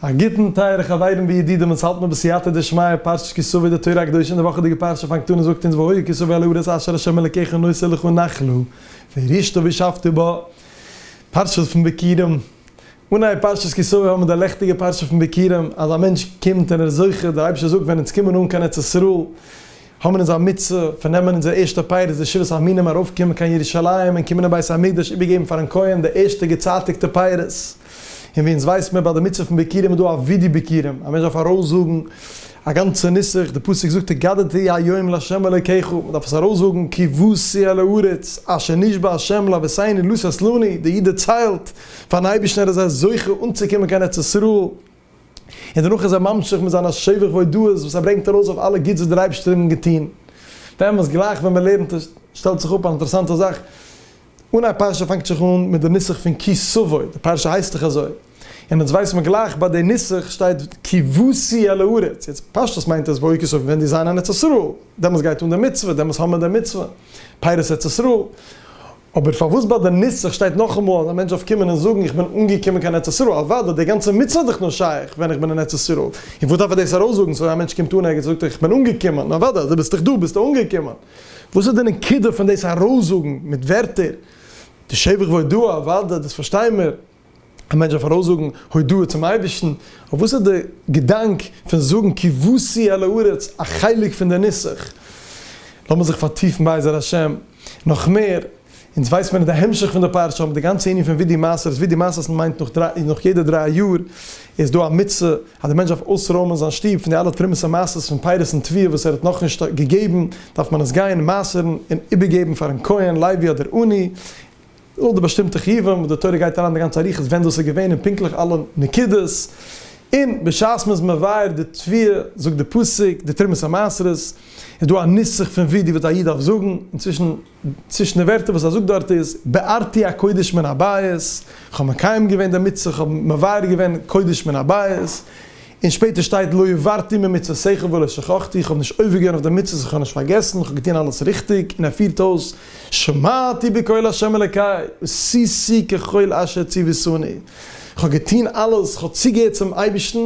א גוטן טייערע חברים וידידים, אונז האלט מיר בסייעתא דשמיא פרשת כי סוה די תורה הקדושה און די וואכעדיגע פרשה פאנגט אן און זאגט אונז והיה כי סוה אל הארץ אשר השם אלקיך נושא לך נחלו וירשתו וישבתו בה פרשה פון ביכורים, אנהייב פרשת כי סוה האמיר די לעכטיגע פרשה פון ביכורים אז א מענטש קומט און ער איז זוכה, דער אייבערשטער זאגט ווען אונז קומען אן קיין ארץ ישראל, האבן אונז א מצוה פון נעמען אונזער ערשטע פייער איז די שבעת המינים ארויפקומען קיין ירושלים און קומען אין בית המקדש איבערגעבן פארן כהן די ערשטע געצייטיגטע פייערס, און ווי אונז ווייס מיר ביי די מצוה פון ביכורים איז דא א וידוי ביכורים א מענטש דארף ארויסזאגן א גאנצע נוסח, די פסוק זאגט התגדתי היום לה' אלוקיך מען דארף עס ארויסזאגן כבשי על הארץ אשר נשבע ה' להבסני לא ססלני, די איד דערציילט פארן אייבערשטן ער איז זוכה אנצוקומען קיין ארץ ישראל, און דערנאך איז ער ממשיך מיט זיינע שבח והודאות וואס ער ברענגט ארויס אויף אלע גוטס וואס דער אייבערשטער האט אים געטון, באמת גלייך ווען מען לערנט עס שטעלט זיך אפ אן אינטערעסאנטע זאך, אן א פרשה פאנגט זיך אן מיט די נוסח פון כי סבוי, די פרשה הייסט דאך אזוי, און יעצט ווייסט מען גלייך ביי די נוסח שטייט כי בוזי אל הארץ, יעצט פשטות מיינט עס והיו כי סבוי ווען די זיין אין ארץ ישראל, דעמאלס גייט אן די מצוה, דעמאלס האבן מיר די מצוה, פירות ארץ ישראל, אבער פארוואס ביי די נוסח שטייט נאכאמאל אז א מענטש דארף קומען און זאגן איך בין אנגעקומען קיין ארץ ישראל? אוודאי, די גאנצע מצוה איז דאך נאר שייך ווען איך בין אין ארץ ישראל, און וואס דארף ער דאס ארויסזאגן? סאוי א מענטש קומט אן ערגעץ און זאגט איך בין אנגעקומען, נו אוודאי אז דו ביסט דאך דא ביסטו אנגעקומען. וואס איז די נקודה פון דאס ארויסזאגן מיט ווערטער? די שבח והודאה אוודאי דאס פארשטיי מיר. א מענטש דארף ארויסזאגן הודאה צום אייבערשטן, אבער וואס איז די געדאנק פון זאגן כבשי אל הארץ א חלק פון די נוסח? לאמיר זיך פארטיפן בעזר השם נאך מער, אונז ווייסט מיר נישט די המשך פון די פרשה, אבער די גאנצע ענין פון ווי די מעשר איז ווי די מעשר איז מיינט נאך יעדע דריי יאר איז דא א מצוה אז די מענטש דארף אויסרוימען זיין שטוב פון די אלע תרומות ומעשרות פון פירות און תבואה וואס ער האט נאכנישט געגעבן דארף מען עס גיין מעשר'ן און איבערגעבן פארן כהן לוי אדער עני אויך די באשטימטע חיובים וואס די תורה גייט אריין די גאנצע אריכות ווען דאס איז געווען און פונקטליך אלע נקודות, און בשעת מען איז מבאר די תביעה זאגט די פסוק די תרומת המעשרות איז דא א נוסח פון ווי די וואס א איד דארף זאגן, און צווישן צווישן די ווערטער וואס ער זאגט דארט איז בארתי הקודש מן הבית, איך האב מקיים געווען די מצוה, איך האב מבאר געווען קודש מן הבית, און שפעטער שטייט לא עברתי ממצוותיך ולא שכחתי, איך האב נישט עובר געווען אויף די מצוות, איך האב נישט פארגעסן, איך האב געטון אלעס ריכטיג, און ער פירט אויס. שמעתי בקול ה' אלקי, ועשיתי ככל אשר ציוויתני, כ'האב געטון אלעס, כ'האב צוגעהערט צום אייבערשטן,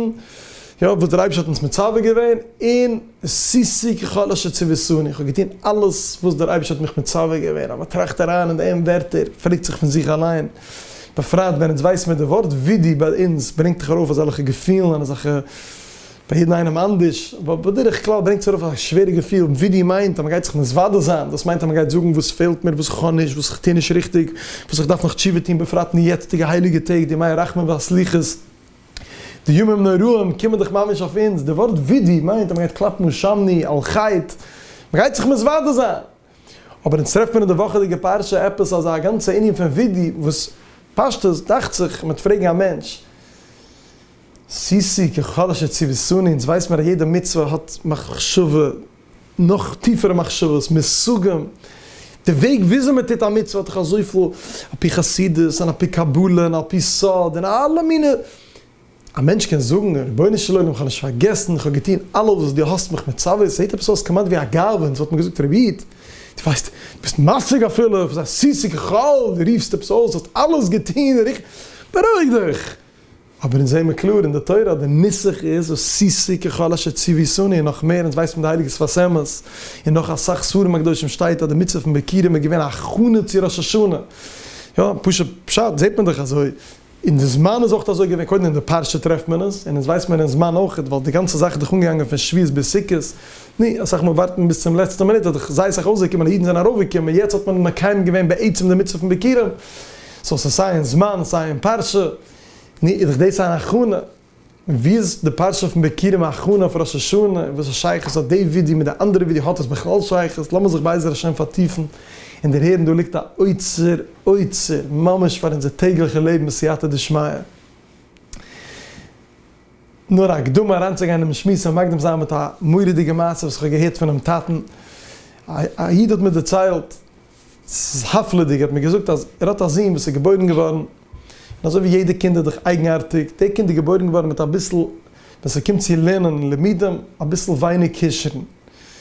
יא, וואס דער אייבערשטער האט אונז מצווה געווען, און ועשיתי ככל אשר ציוויתני, כ'האב געטון אלעס וואס דער אייבערשטער האט מיך מצווה געווען, אז מען טראכט אריין אין די אם ווערטער, פרעגט זיך פון זיך אליין, בפרט ווען אונז ווייסן ווען די ווארט ווידי ביי אונז ברענגט דאך ארויף אזעלכע געפילן און אזעלכע. ביי יעדן איינעם אנדערש, אבער בדרך כלל ברענגט עס ארויף א שווערע געפיל, ווי דו מיינט אז מען גייט זיך מתוודה זיין, דאס מיינט אז מען גייט זאגן וואס פעלט מיר, וואס איך האב נישט, וואס איך טו נישט ריכטיג, וואס איך דארף נאך תשובה טון, בפרט אין די יעצטיגע הייליגע טעג, די ימי הרחמים והסליחות, די ימים נוראים קומען דאך ממש אויף אונז, די ווארט ווידוי מיינט אז מען גייט קלאפן אן שמני על חטא, מען גייט זיך מתוודה זיין, אבער אונז טרעפט מען אין די וואכעדיגע פרשה עפעס אזא גאנצע ענין פון ווידוי, וואס פשטות דאכט זיך מען וועט פרעגן א מענטש, סיסי, ככל אשר ציוויסוני, אונז ווייס מיר אז יעדע מצוה האט מחשבה, נאך טיפערע מחשבות, מושגים, די וועג וויאזוי מען טוט א מצוה האט דאך אזויפיל, על פי חסידות און על פי קבלה און על פי סוד און אלע מיני, א מענטש קען זאגן, רבונו של עולם איך האב נישט פארגעסן, איך האב געטון אלעס וואס דו האסט מיך מצווה, ס'זעט עפעס אויס כמעט ווי א גאווה, אונז וואלט מען געזאגט רבי איד, דו ווייסט, דו ביסט משיג אפילו, סיסי ככל, דו רופסט עפעס אויס, דו האסט אלעס געטון, בארואיג דיך. אבער אונז זעמער קלאר אין די תורה אז די נוסח איז הוסיסי ככל אשר ציוויסוני און נאך מער אונז ווייסט פון די הייליגע שפת אמת און נאך אסאך ספרים הקדושים שטייט אז די מצוה פון ביקירים איז געווען א הכנה צו ראש השנה יא פשוט פשט זעט מען דאך אזוי און די זמן איז אויך אזוי געווען קודם אין די פרשה טרעפט מען עס און אונז ווייסט מען אין זמן אויך ווייל די גאנצע זאך איז דאך אנגעגאנגען פון שביעית ביז סוכות ני אסאך מאל ווארט מען ביז צום לעצטע מינוט איז דאך זייער סאך אויסגעקומען אז אידן זענען ארויף געקומען יעצט האט מען מקיים געווען בעצם די מצוה פון ביקירים. סאו ס'איז סיי אין זמן סיי אין פרשה, נו איז דאך דאס אן הכנה, ווי איז די פרשה פון בקירים א הכנה אויף ראש השנה, און וואס איז שייכות האט די ווידיא מיט די אנדערע ווידיא, האט עס בכלל שייכות, לאמיר זיך בעזר השם פארטיפן און דערהערן, דא ליגט א אוצר אוצר ממש פאר אונזער טעגליכע לעבן בסייעתא דשמיא. נאר א הקדמה אריינצוגיין אינעם שמועס און מקדים זיין מיט א מורא'דיגע מעשה וואס איך האב געהערט פונעם טאטן, א איד האט מיר דערציילט, זהב'לעדיג האט מיר געזאגט אז ער האט א זון וואס איז געבוירן געווארן, און אזוי ווי יעדע קינד איז דאך אייגנארטיג, דער קינד איז געבוירן געווארן מיט אביסל, ווען ס'קומט צו לערנען און לימודים, אביסל ווייניג כשרון,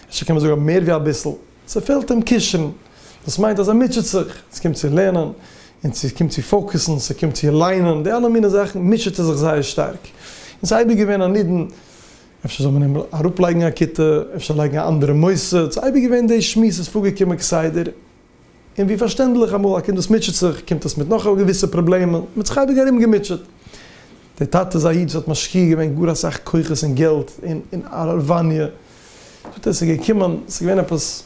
אפשר קען מען זאגן מער ווי אביסל, ס'פעלט אים כשרון, דאס מיינט אז ער מוטשעט זיך, ווען ס'קומט צו לערנען, און ס'קומט צו פאוקעסן, ס'קומט צו ליינען, די אלע מיני זאכן מוטשעט ער זיך זייער שטארק, און ס'איז אייביג געווען א נידון אפשר זאל מען אים אראפלייגן א כיתה, אפשר לייגן א אנדערע מוסד, ס'איז אייביג געווען די שמועס איז פארגעקומען כסדר, און ווי פארשטענדליך אמאל א קינד וואס מוטשעט זיך קומט עס מיט נאך א געוויסע פראבלעמען, מען האט זיך אייביג ארום געמוטשעט. דער טאטע איז א איד וואס האט משקיע געווען גאר אסאך כוחות און געלט אין אין הארעוואניע, זאגט ער עס איז געקומען, עס איז געווען עפעס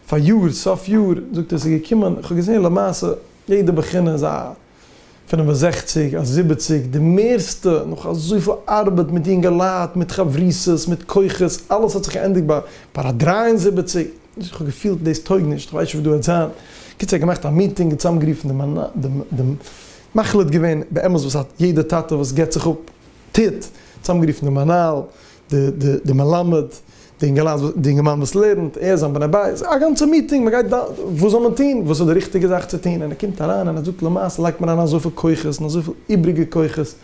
פאריאר סוף יאר, זאגט ער עס איז געקומען, איך האב געזען למעשה יעדע בחינה איז א. פֿינף און זעכציק, א זיבעציק, די מערסטע, נאך אזויפיל ארבעט מיט יונגעלייט, מיט חברותות, מיט כוחות, אלעס האט זיך געענדיגט ביי ביי א דרײַ און זיבעציק, איך האב געפילט דאס טויג נישט, איך ווייס נישט וואס דא העט זיין, קיצער געמאכט א מיטינג, צוזאמגערופן די מנ די די מחליט געווען באמת וואס א יעדע טאטע וואס געבט זיך אפ טוט, צוזאמגערופן די מנהל, די מלמד, די אינגערמאן וואס לערנט, ער זיין בני בית, א גאנצע מיטינג, מען גייט דן וואס זאל מען טון, וואס איז די ריכטיגע זאך צו טון, און ער קומט אריין און ער זאגט למעשה לייגט מען אריין אזויפיל כוחות און אזויפיל איבריגע כוחות,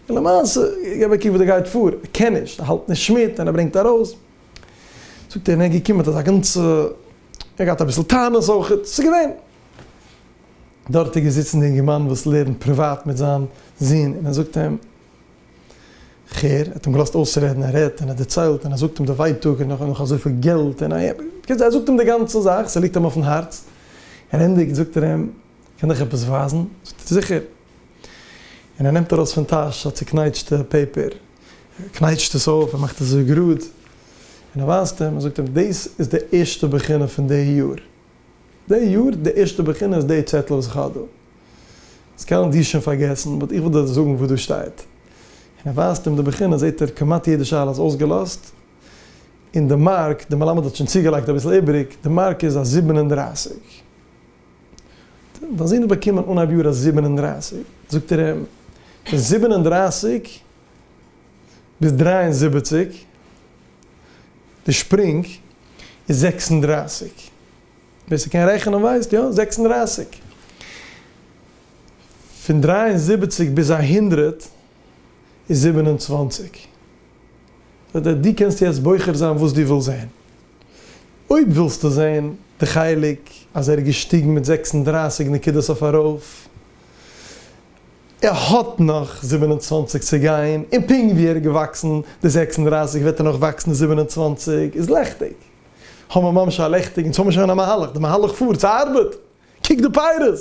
און למעשה גיב א קוק וואס דא גייט פאר, ער קען נישט, ער האלט נישט מיט און ער ברענגט ארויס, זאגט ער און ער איז געקומען מיט אזא גאנצע, ער האט געהאט אביסל טענות אויך, עס איז געווען. דארט איז געזיצן די אינגערמאן וואס לערנט פריוואט מיט זיין זון און ער זאגט אים. כ'הער, ער האט אים געלאזט אויסרעדן, ער רעדט און ער דערציילט און ער זאגט אים די ווייטאג און נאך אזויפיל געלט און א. בקיצור ער זאגט אים די גאנצע זאך, ס'ליגט אים אויפן הארץ, און ענדיגט זאגט ער אים, קען דיך עפעס ווייזן? זאגט ער זיכער, און ער נעמט ארויס פון טאש א צוקנייטשטע פעיפער, ער קנייטשט עס אויף, ער מאכט אזוי גראד, און ער ווייזט אים און זאגט אים, דאס איז די ערשטע בחינה פון די יאר, די יאר די ערשטע בחינה איז די צעטל וואס איך האב דא. עס קענען די שוין פארגעסן באט איך וויל דיר זאגן וואס דא שטייט. און ער ווייזט אים די בחינה זעט ער כמעט יעדע שאלה איז אויסגעלאזט און די מארק די מלמד האט שוין צוגעלייגט אביסל איבריג די מארק איז א זיבן און דרײַסיק. דיין זון האט באקומען אנהייב יאר א זיבן און דרײַסיק זאגט ער אים זיבן און דרײַסיק ביז דרײַ און זיבעציק, די שפרינג איז זעקס און דרײַסיק, ווער ס'קען רעכענען ווייסט, יא, זעקס און דרײַסיק, פון דרײַ און זיבעציק ביז א הונדרעט איז זיבן און צוואַנציק, דו קענסט יעצט בוחר זיין וואס דו ווילסט זען, אויב ווילסטו זען די חלק אז ער איז געשטיגן מיט זעקס און דרײַסיק נקודות אויף ארויף, ער האט נאך זיבן און צוואַנציק צו גיין, און פונקט ווי ער איז געוואקסן די זעקס און דרײַסיק וועט ער נאך וואקסן די זיבן און צוואַנציק, איז לעכטיג, האמער ממש א לעכטיג, אונז האמער שוין א מהלך, די מהלך פארט, ס'ארבעט, קוק די פיירות!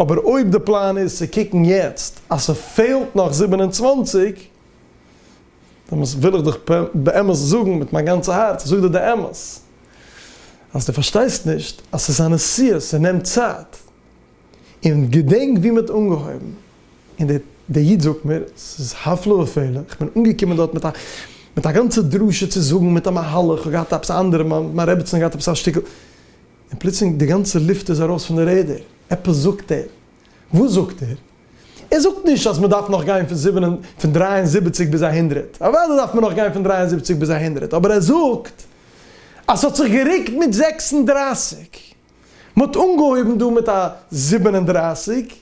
אבער אויב די פלאן איז צו קוקן יעצט אז ס'פעלט נאך זיבן און צוואַנציק, דעמאלס וויל איך דיך באמת זאגן מיט מיין גאנצע הארץ, איך זאג דיר די אמת, אז דו פארשטייסט נישט אז ס'איז א נסיעה, ס'נעמט צייט, און געדענק ווי מ'האט אנגעהויבן, און דער דער איד זאגט מיר, ס'איז הפלא ופלא, איך בין אנגעקומען דארט מיט א מיט א גאנצע דרשה צו זאגן, מיט א מהלך, איך האב געהאט עפעס א אנדערע, מיין רעבעצין האט געהאט עפעס א שטיקל, און פלוצלינג די גאנצע לופט איז ארויס פון די רעדער, עפעס זאגט ער, וואס זאגט ער? ער זאגט נישט אז מ'דארף נאך גיין פון זיבן און פון דרײַ און זיבעציק ביז א הונדרעט, אוודאי דארף מען נאך גיין פון דרײַ און זיבעציק ביז א הונדרעט, אבער ער זאגט אז ס'האט זיך גערוקט מיט זעקס און דרײַסיק, מען האט אנגעהויבן דא מיט א זיבן און דרײַסיק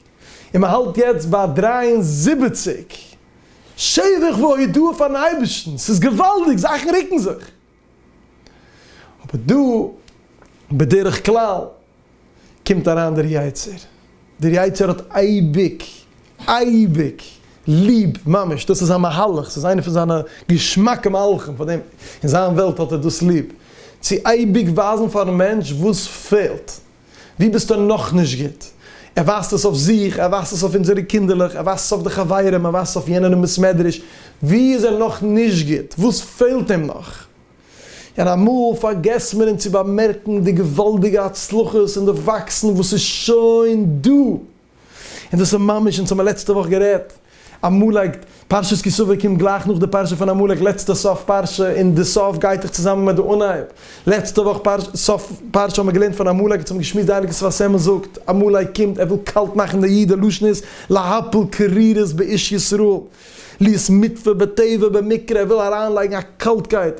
און מען האלט יעצט ביי דרײַ און זיבעציק, שבח והודאה פארן אייבערשטן, ס'איז געוואלדיג, זאכן רוקן זיך, אבער דא בדרך כלל קומט אריין דער יצר. דער יצה ר האט אייביג, אייביג, ליב, ממש, דאס איז זיין מהלך, ס'איז איינע פון זיינע געשמאקע מהלכים, פאר דעם, אין זיין וועלט האט ער דאס ליב, צו אייביג ווייזן פארן מענטש וואס פעלט, וואו ביסטו נאך נישט גוט, ער ווייזט עס אויף זיך, ער ווייזט עס אויף אונזערע קינדערלעך, ער ווייזט עס אויף די חברים, ער ווייזט עס אויף יענער אין בית מדרש, וואו איז ער נאך נישט גוט, וואס פעלט אים נאך. און אמאל פארגעסט מען אונז צו באמערקן די געוואלדיגע הצלחות און די וואקסן וואס איז שוין דא, און דאס איז ממש, אונז האמיר לעצטע וואך גערעדט, עמלק, פרשת כי סוף קומט גלייך נאך די פרשה פון עמלק, לעצטע סוף פרשה, און די סוף גייט דאך צוזאמען מיט די אנהייב, לעצטע וואך פרשה, סוף פרשה האמיר געלערנט פון עמלק, אונז האמיר געשמועסט די הייליגע שפת אמת זאגט, עמלק קומט, ער וויל קאלט מאכן די איד, דער לשון איז, להפיל קרירות באיש ישראל. ליס מיטפע בטבע במקרה וויל אריינלייגן א קאלטקייט.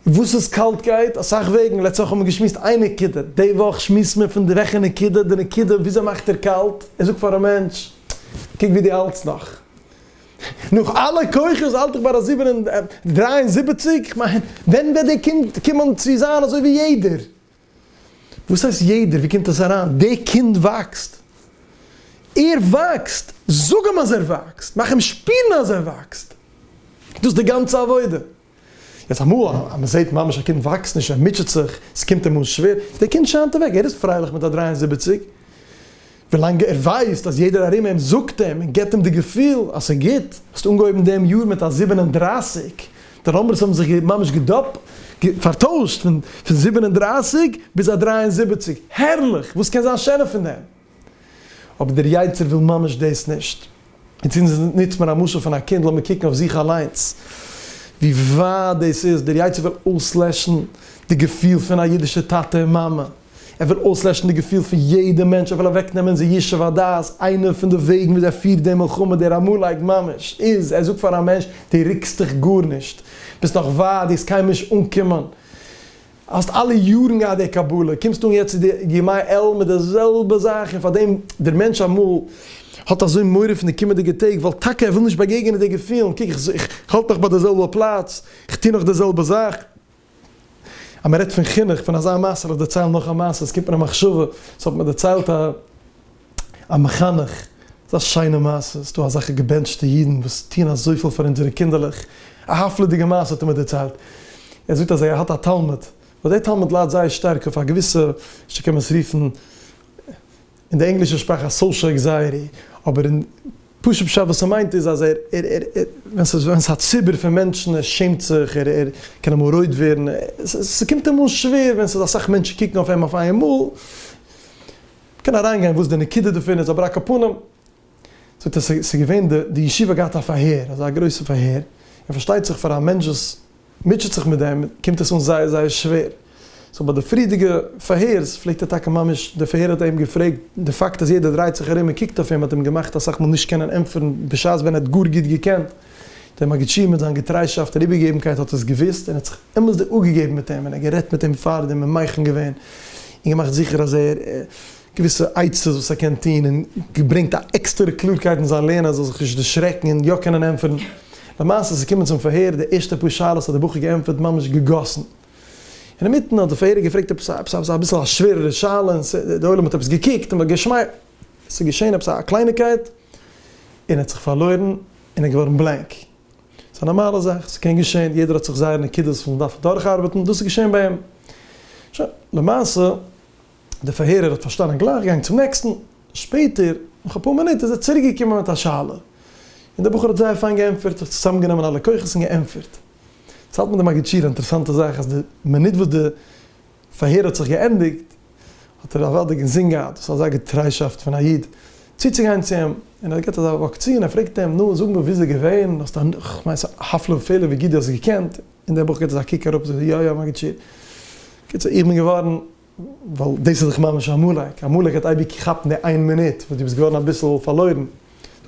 וואס איז קאלטקייט? אסאך וועגן, לעצט וואך האט מען געשמועסט איין נקודה, די וואך שמועסט מען פון די וועכע נקודה, די נקודה וויאזוי מאכט ער קאלט, ער זאגט פאר א מענטש, קוק ווי דו האלטסט נאך, נאך אלע כוחות האלט איך ביי א זיבן און דריי און זיבעציג, כ'מיין ווען וועט דער קינד קומען צו זיין אזוי ווי יעדער, וואס הייסט יעדער? ווי קומט עס אריין? די קינד וואקסט! ער וואקסט! זאג אים אז ער וואקסט! מאך אים שפירן אז ער וואקסט! דאס איז די גאנצע עבודה! יעצט אמאל אז מען זעט ממש א קינד וואקסט נישט, ער מוטשעט זיך, עס קומט אים אן שווער, די קינד שיינט אוועק, ער איז פרייליך מיט א דרײַ און זיבעציק, ווילאנג ער ווייסט אז יעדער ארום אים זאגט אים און געבט אים די געפיל אז ס'איז גוט. האסט אנגעהויבן דעם יאר מיט א זיבן און דרײַסיק, די נומבערס האבן זיך ממש געדאפלט, פארטוישט פון זיבן און דרײַסיק ביז א דרײַ און זיבעציק, הערליך! וואס קען זיין שענער פון דעם? אבער דער יצר וויל ממש דאס נישט. און צו נוצט מען א משל פון א קינד, לאמיר קוקן אויף זיך אליינס ווי ווייט דאס איז, דער יצר וויל אויסלעשן די געפיל פון א אידישע טאטע און מאמע, ער וויל אויסלעשן די געפיל פון יעדע מענטש, ער וויל אוועקנעמען די ישוב הדעת, איינע פון די וועגן וויאזוי ער פירט די מלחמה, דער עמלק ממש, איז ער זאגט פאר א מענטש, דו רוקסט דיך גארנישט, ביסט נאך ווייט, דו וועסט קיינמאל נישט אנקומען, האסט אלע יארן געהאט די קבלה, קומסט אן יעצט צו די ימי אלול מיט די זעלבע זאך, און פארדעם דער מענטש אמאל האט אזוי מורא פון די קומענדיגע טעג, ווייל טאקע ער וויל נישט באגעגענען די געפילן, קוק איך האלט נאך ביי די זעלבע פלאץ, איך טו נאך די זעלבע זאך. אז מען רעדט פון חינוך, פון אזא מעשה, לאמיר דערציילן נאך א מעשה, עס קומט מיר א מחשבה, עס האט מיר דערציילט א א מחנך, ס'איז א שיינע מעשה, עס איז דא אזעלכע געבענטשטע אידן וואס טוען אזויפיל פאר אונזערע קינדערלעך, א הפלא'דיגע מעשה האט ער מיר דערציילט, ער זאגט אז ער האט א תלמיד, וואס דער תלמיד ליידט זייער שטארק אויף א געוויסע, נישט צו קען מען עס רופן. אין די ענגלישע שפראך א סאושעל ענקזייעטי, אבער אין פשוט פשט וואס ס'מיינט איז אז ער ער ער ווען ס'איז ווען ס'איז א ציבור פון מענטשן ער שעמט זיך ער ער קען אמאל רויט ווערן ס'קומט אים אן שווער ווען ס'איז אסאך מענטשן קוקן אויף אים אויף איין מאל. מ'קען אריינגיין וואס די נקודה דערפון איז אבער על כל פנים זאגט ער ס'איז געווען די ישיבה האט געהאט א פארהער אזא גרויסע פארהער און פארשטייט זיך פאר א מענטש וואס מוטשעט זיך מיט דעם, קומט עס אן זייער זייער שווער. סאו ביי די פריערדיגע פארהערס פלעגט ער טאקע ממש, די פארהער האט אים געפרעגט, די פאקט אז יעדער דרייט זיך ארום און קוקט אויף אים האט אים געמאכט אסאך מאל נישט קענען ענטפערן בשעת ווען ער האט גאר גוט געקענט דעם מגידשי מיט זיין געטריישאפט און איבערגעגעבנקייט האט עס געוואוסט און האט זיך אמת'דיג אפגעגעבן מיט אים און ער האט גערעדט מיט אים פאר דעם און מוחין געווען און געמאכט זיכער אז ער געוויסע עצות וואס ער קען טון און געברענגט א עקסטערע קלארקייט אין זיין לערנען ער זאל זיך נישט דערשרעקן און יא קענען ענטפערן. למעשה איז געקומען צום פארהער, די ערשטע פאר שאלות האט דער בחור געענטפערט ממש געגאסן. אינמיטן האט דער פארהערער געפרעגט עפעס א עפעס א אביסל א שווערערע שאלה און ס די עולם האט עפעס געקוקט און געשמייכלט. עס איז געשען עפעס א קלייניקייט און ער האט זיך פארלוירן און ער איז געווארן בלענק. ס'איז א נארמאלע זאך, ס'קען געשען, יעדער האט זיך זייערע נקודות וואס מ'דארף דורכארבעטן, דאס איז געשען ביי אים. שוין, למעשה. דער פארהערער האט פארשטאנען גלייך געגאנגען צום נעקסטן, שפעטער נאך אפאר מינוט איז ער צוריק געקומען מיט א שאלה, און דער בחור האט זייער פיין געענטפערט, זיך צוזאם גענומען אלע כוחות און געענטפערט. צו האלט מיט די מגיד שיעור א אינטערעסאנטע זאך אז די מינוט וואס די פארהער האט זיך געענדיגט האט ער אוודאי געזען געהאט וואס אזא געטריישאפט פון א איד צוצוגיין צו אים, און ער האט געהאט אזא וואק צו, און ער פרעגט אים נו זאג מיר ווי איז ער געווען, האסט א כ'מיין ס'איז א הפלא ופלא ווי גוט די האסט געקענט, און דער בחור געט אזא קוק אראפ און זאגט יא יא מגיד שיעור, קיצור איך בין געווארן ווייל דאס איז דאך ממש א עמלק, א עמלק וועט אייביג כאפן די איין מינוט וואס דו ביסט געווארן אביסל פארלוירן,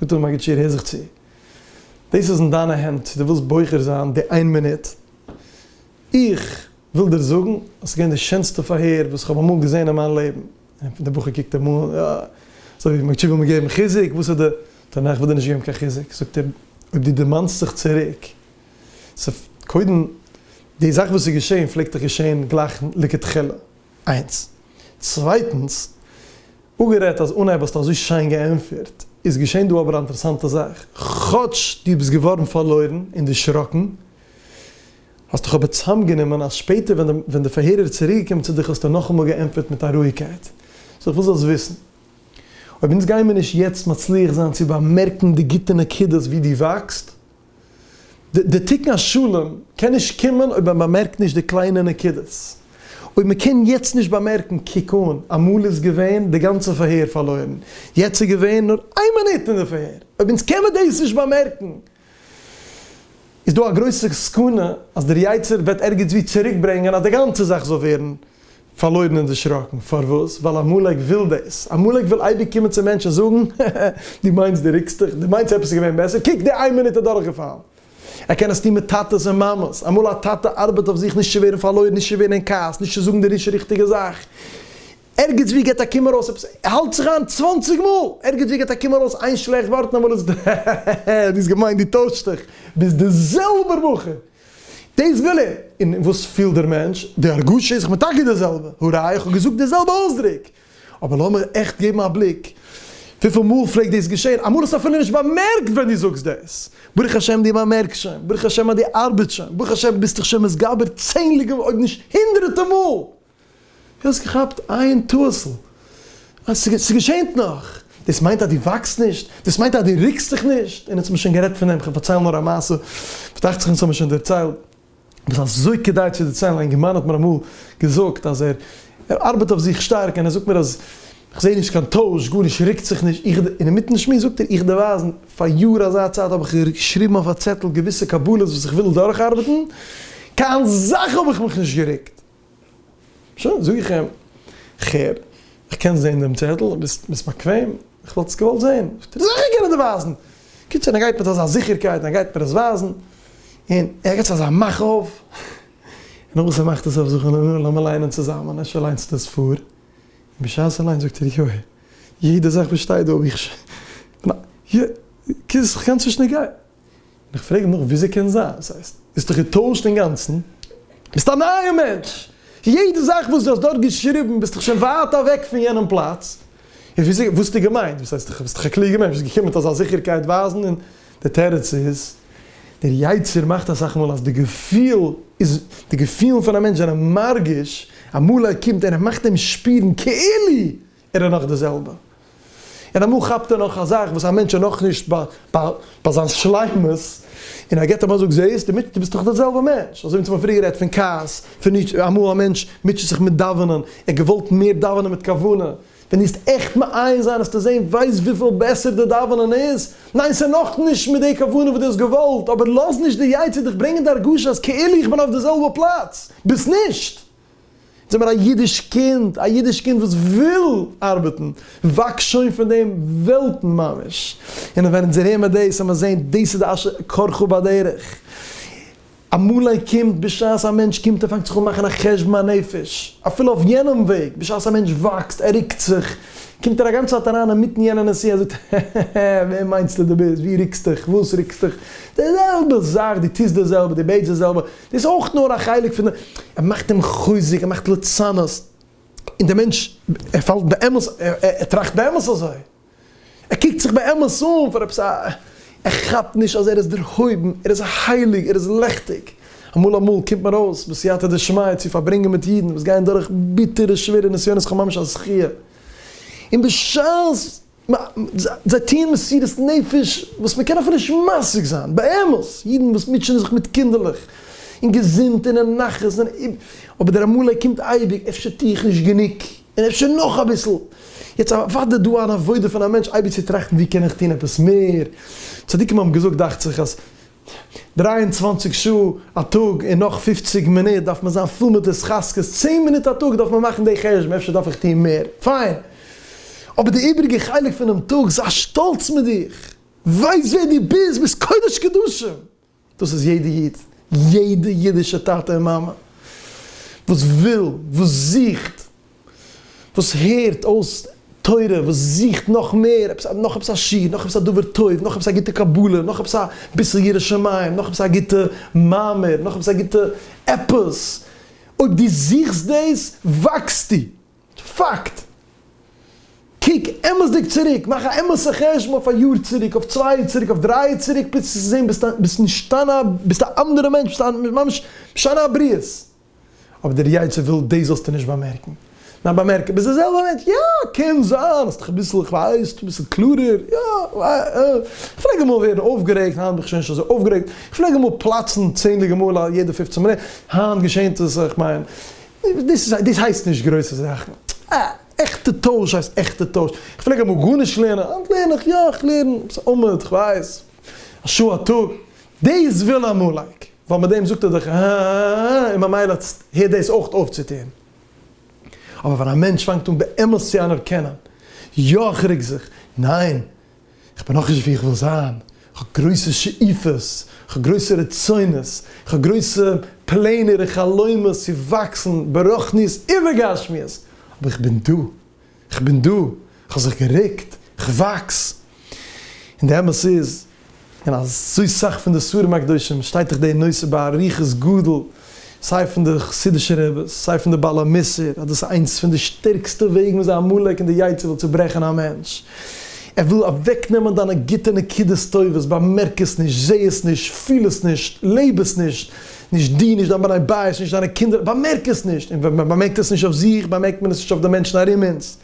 זאגט אים מגיד שיעור הער זיך צו, דאס איז אין דיינע הענט צו דו ווילסט בוחר זיין די איין מינוט, איך וויל דיר זאגן אז ס'איז געווען די שענסטע פארהער וואס איך האב אמאל געזען אין מיין לעבן, און דער בחור קוקט אים אן אזוי ווי מגיד שיעור וויל מיר געבן חיזוק, וואס איז די טענה, איך וויל דיר נישט געבן קיין חיזוק, זאגט ער, אויב דו דערמאנסט זיך צוריק ס'פ, קודם, די זאך וואס איז געשען פלעגט דאך געשען גלייך לכתחלה, איינס. צווייטנס, אפגערעדט אז אנהייב האסטו אזוי שיין געענטפערט, איז געשען דא אבער א אינטערעסאנטע זאך, כאטש דו ביסט געווארן פארלוירן און דערשראקן, האסט דיך אבער צוזאמגענומען אז שפעטער ווען די פארהער איז צוריקגעקומען צו דיך האסטו נאכאמאל געענטפערט מיט א רואיגקייט. סאו כ'וויל זאלסט וויסן, אויב אונז גיימיר נישט יעצט מצליח זיין צו באמערקן די גוטע נקודות ווי דו וואקסט, די תיקון השלם קען נישט קומען אויב מען באמערקט נישט די קליינע נקודות. אויב מען קען יעצט נישט באמערקן קוק אן, אמאל איז געווען די גאנצע פארהער פארלוירן, יעצט איז געווען נאר איין מינוט אין די פארהער, אויב אונז קען מען דאס נישט באמערקן, איז דא א גרויסע סכנה אז דער יצר וועט ערגעץ ווי צוריק ברענגען אז די גאנצע זאך זאל ווערן פארלוירן און דערשראקן. פארוואס? ווייל עמלק וויל דאס. עמלק וויל אייביג קומען צום מענטש און זאגן, העהעהע, דו מיינסט דו רוקסט דיך? דו מיינסט עפעס איז געווען בעסער? קוק, די איין מינוט איז דורכגעפאלן. ער קען עס טון מיט טאטעס און מאמעס. אמאל א טאטע ארבעט אויף זיך נישט צו ווערן פארלוירן, נישט צו ווערן אין כעס, נישט צו זאגן די נישט ריכטיגע זאך. ערגעץ ווי גיבט א קינד ארויס עפעס, ער האלט זיך איין צוואַנציק מאל! ערגעץ ווי גיבט א קינד ארויס איין שלעכט ווארט און אמאל איז עס, העהעהע, דו האסט געמיינט דו טוישסט דיך, ביסט דער זעלבער בחור! דאס וויל ער, און וואס פילט דער מענטש? די הרגשה איז כמעט טאקע די זעלבע, הראיה איך האב געזאגט די זעלבע אויסדרוק, אבער לאמיר עכט געבן א בליק וויפיל מאל פלעגט דאס געשען, אמאל האסטו אפילו נישט באמערקט ווען דו זאגסט דאס, ברוך השם דו באמערקסט שוין, ברוך השם אז דו ארבעטסט שוין, ברוך השם ביסט דיך שוין מתגבר צענדליגע אויב נישט הונדרעטע מאל. דו האסט געכאפט איין טאהסל, אז ס'איז געשענט נאך, דאס מיינט אז דו וואקסט נישט? דאס מיינט אז דו רוקסט זיך נישט? און אונז האבן שוין גערעדט פון דעם, כ'וועל פארציילן נאר א מעשה, וואס דאכט זיך אונז האבן שוין דערציילט, וואס אזוי כדאי צו דערציילן, א אינגערמאן האט מיר אמאל געזאגט אז ער ארבעט אויף זיך שטארק, און ער זאגט מיר אז איך זעה נישט קיין טויש, גארנישט רוקט זיך נישט, איך, אינמיטן שמועס זאגט ער, איך דערווייז, פאר יאר אזא צייט האב איך געשריבן אויף א צעטל געוויסע קבלות וואס איך וויל דורכארבעטן, קיין זאך האב איך מיך נישט גערוקט. שוין, זאג איך אים, כ'הער, כ'קען זען דעם צעטל, ביסט ביסט באקוועם? כ'וואלט עס געוואלט זען. זאגט ער, זיכער קען איך דיר ווייזן! קומט שוין, ער גייט מיט אזא זיכערקייט און ער גייט מיר עס ווייזן, און ער געבט עס אזא מאך אויף, נאך וואס ער מאכט עס אויף זאגט מען, נו, לאמיר ליינען צוזאמען, אפשר ליינסטו עס פאר? און בשעת ער ליינט זאגט ער, יוי, יעדע זאך וואס שטייט דא האב איך שוין, כ'קען עס נישט דערגיין. איך פרעג נאך וויאזוי קען זיין? עס הייסט דו האסט דיך געטוישט אינגאנצן? ביסט א נייער מענטש! יעדע זאך וואס דו האסט דארט געשריבן ביסטו שוין ווייט אוועק פון יענעם פלאץ! און וויאזוי וואס האסטו געמיינט? וואס הייסט דו ביסט דאך א קלוגער מענטש ביסט געקומען מיט אזא זיכערקייט ווייזן און דער תירוץ איז דער יצר מאכט אסאך מאל אז די געפיל איז די געפילן פון א מענטש זענען מרגיש אמאל ער קומט און ער מאכט אים שפירן כאילו ער איז נאך די זעלבע. און אמאל כאפט ער נאך א זאך וואס א מענטש איז נאכנישט ביי זיין שלימות, און ער גיבט אים א זאג, זעהסט, דו מוטשעסט דאך די זעלבע מענטש. אזוי ווי אונז האבן פריער גערעדט פון כעס, פון אידשי, אמאל א מענטש מוטשעט זיך מיט דאווענען, ער האט געוואלט מער דאווענען מיט כוונה, ווען דו וועסט עכט מעיין זיין וועסטו זעהן ווייזט וויפיל בעסער די דאווענען איז, ניין ס'איז נאכנישט מיט די כוונה וואס דו האסט געוואלט, אבער לאז נישט די יצה דיך ברענגען די הרגשה אז כאילו איך בין אויף די זעלבע פלאץ, ביסט נישט! זיי מיר א אידיש קינד, א אידיש קינד וואס וויל ארבעטן, וואקס שוין פון דעם וועלטן ממש, און ווען אונז הער מיר דאס און מיר זעהן דאס איז די אשר קרך בדרך, אמאל א קינד בשעת א מענטש קומט ער פאנגט זיך אן מאכן א חשבון הנפש, אפילו אויף יענעם וועג, בשעת א מענטש וואקסט, ער רוקט זיך, קומט ער א גאנצע צייט אריין אינמיטן יענע נסיעה, ער זאגט, העהעהע, ווער מיינסטו דו ביסט, ווי רוקסטיך, וואס רוקסטיך, די זעלבע זאך, דו טוסט די זעלבע, דו בעטסט די זעלבע. דאס אויך נאר א חלק פון די, ער מאכט אים חוזק, ער מאכט לצנות, און דער מענטש ער פאלט באמת, ער טראכט באמת אזוי, ער קוקט זיך באמת אן פאר עפעס א, ער כאפט נישט אז ער איז דערהויבן, ער איז הייליג, ער איז לעכטיג, אמאל אמאל קומט מען ארויס בסייעתא דשמיא צו פארברענגען מיט אידן וואס גייען דורך ביטערע שווערע נסיונות כ'האב ממש א זכי', און בשעת זיי טוען מסירות נפש וואס מען קען אפילו נישט משיג זיין, באמת, אידן וואס מוטשענען זיך מיט קינדערלעך און געזונט און אין נחת, אבער דער עמלק קומט אייביג, אפשר טו איך נישט גענוג, און אפשר נאך אביסל, יעצט אוודאי דא אן עבודה פון א מענטש אייביג צו טראכטן ווי קען איך טון עפעס מער, צדיקים האבן געזאגט דאכט זיך אז. ט, דרײַ און צוואַנציק שעה א טאג און נאך פֿופֿציק מינוט דארף מען זיין פול מיט התחזקות, צען מינוט א טאג דארף מען מאכן די חשבון אפשר דארף איך טון מער, פיין, אבער די איבריגע חלק פונעם טאג זיי שטאלץ מיט דיך, ווייס ווער דו ביסט, ביסט קודש קדשים, דאס איז יעדע איד, יעדע אידישע טאטע און מאמע וואס וויל, וואס זוכט, וואס הערט אויס תורה, וואס זוכט נאך מער, עפעס א, נאך עפעס א שיעור, נאך עפעס א דבר טוב, נאך עפעס א גוטע קבלה, נאך עפעס א ביסל יראת שמים, נאך עפעס א גוטע מאמר, נאך עפעס א גוטע עפעס, אויב דו זוכסט דאס, וואקסטו! פאקט! קוק אמת'דיג צוריק, מאך א אמת'ע חשבון אויף א יאר צוריק, אויף צוויי יאר צוריק, אויף דריי יאר צוריק, פלעגסטו זען ביסט נישט אן א, ביסט א אנדערע מענטש, ביסט ממש משנה הבריות. אבער דער יצה וויל דאס זאלסטו נישט באמערקן. ניין באמערק ביז די זעלבע מענטש, יא קען זיין האסט דיך אביסל איך ווייס אביסל קלארער, יא איך פלעג אמאל ווערן אויפגערעגט היינט בין איך שוין נישט אזוי אויפגערעגט, איך פלעג אמאל פלאצן צענדליגע מאל א יעדע פופצן מינוט, היינט געשענט עס איך מיין דאס איז דאס הייסט נישט גרויסע זאכן, אה עכטע טויש הייסט עכטע טויש, איך פלעג אמאל גארנישט לערנען היינט לערן איך יא איך לערן אביסל עמוד איך ווייס. א שעה א טאג, דאס וויל א מלאך, ווייל מיט דעם זאגט ער דאך א א א א א און ממילא הערט דאס אויך אויף צו טון. אבער ווען א מענטש פאנגט אן באמת צו אנערקענען, יא איך רעג זיך, ניין איך בין נאכנישט ווי איך וויל זיין, איך האב גרויסע שאיפות, איך האב גרויסע רצונות, איך האב גרויסע פלענער און חלומות צו וואקסן ברוחניות ובגשמיות, אבער איך בין דא. כ'בין דא, כ'האב זיך גערוקט, כ'וואקס. און די אמת איז, אין אזוי סאך פון די ספרים הקדושים שטייט דאך די נושא באריכות גדול, סיי פון די חסידישע רביס, סיי פון די בעל המוסר, אז דאס איז איינס פון די שטערקסטע וועגן וויאזוי עמלק און די יצה וויל צוברעכן א מענטש. ער וויל אוועקנעמען דיינע גוטע נקודות טובות, באמערק עס נישט, זע עס נישט, פיל עס נישט, לעב עס נישט, נישט דו, נישט דיין בני בית, נישט דיינע קינדער, באמערק עס נישט! און ווען מען באמערקט עס נישט אויף זיך, באמערקט מען עס נישט אויף די מענטשן ארום אונז.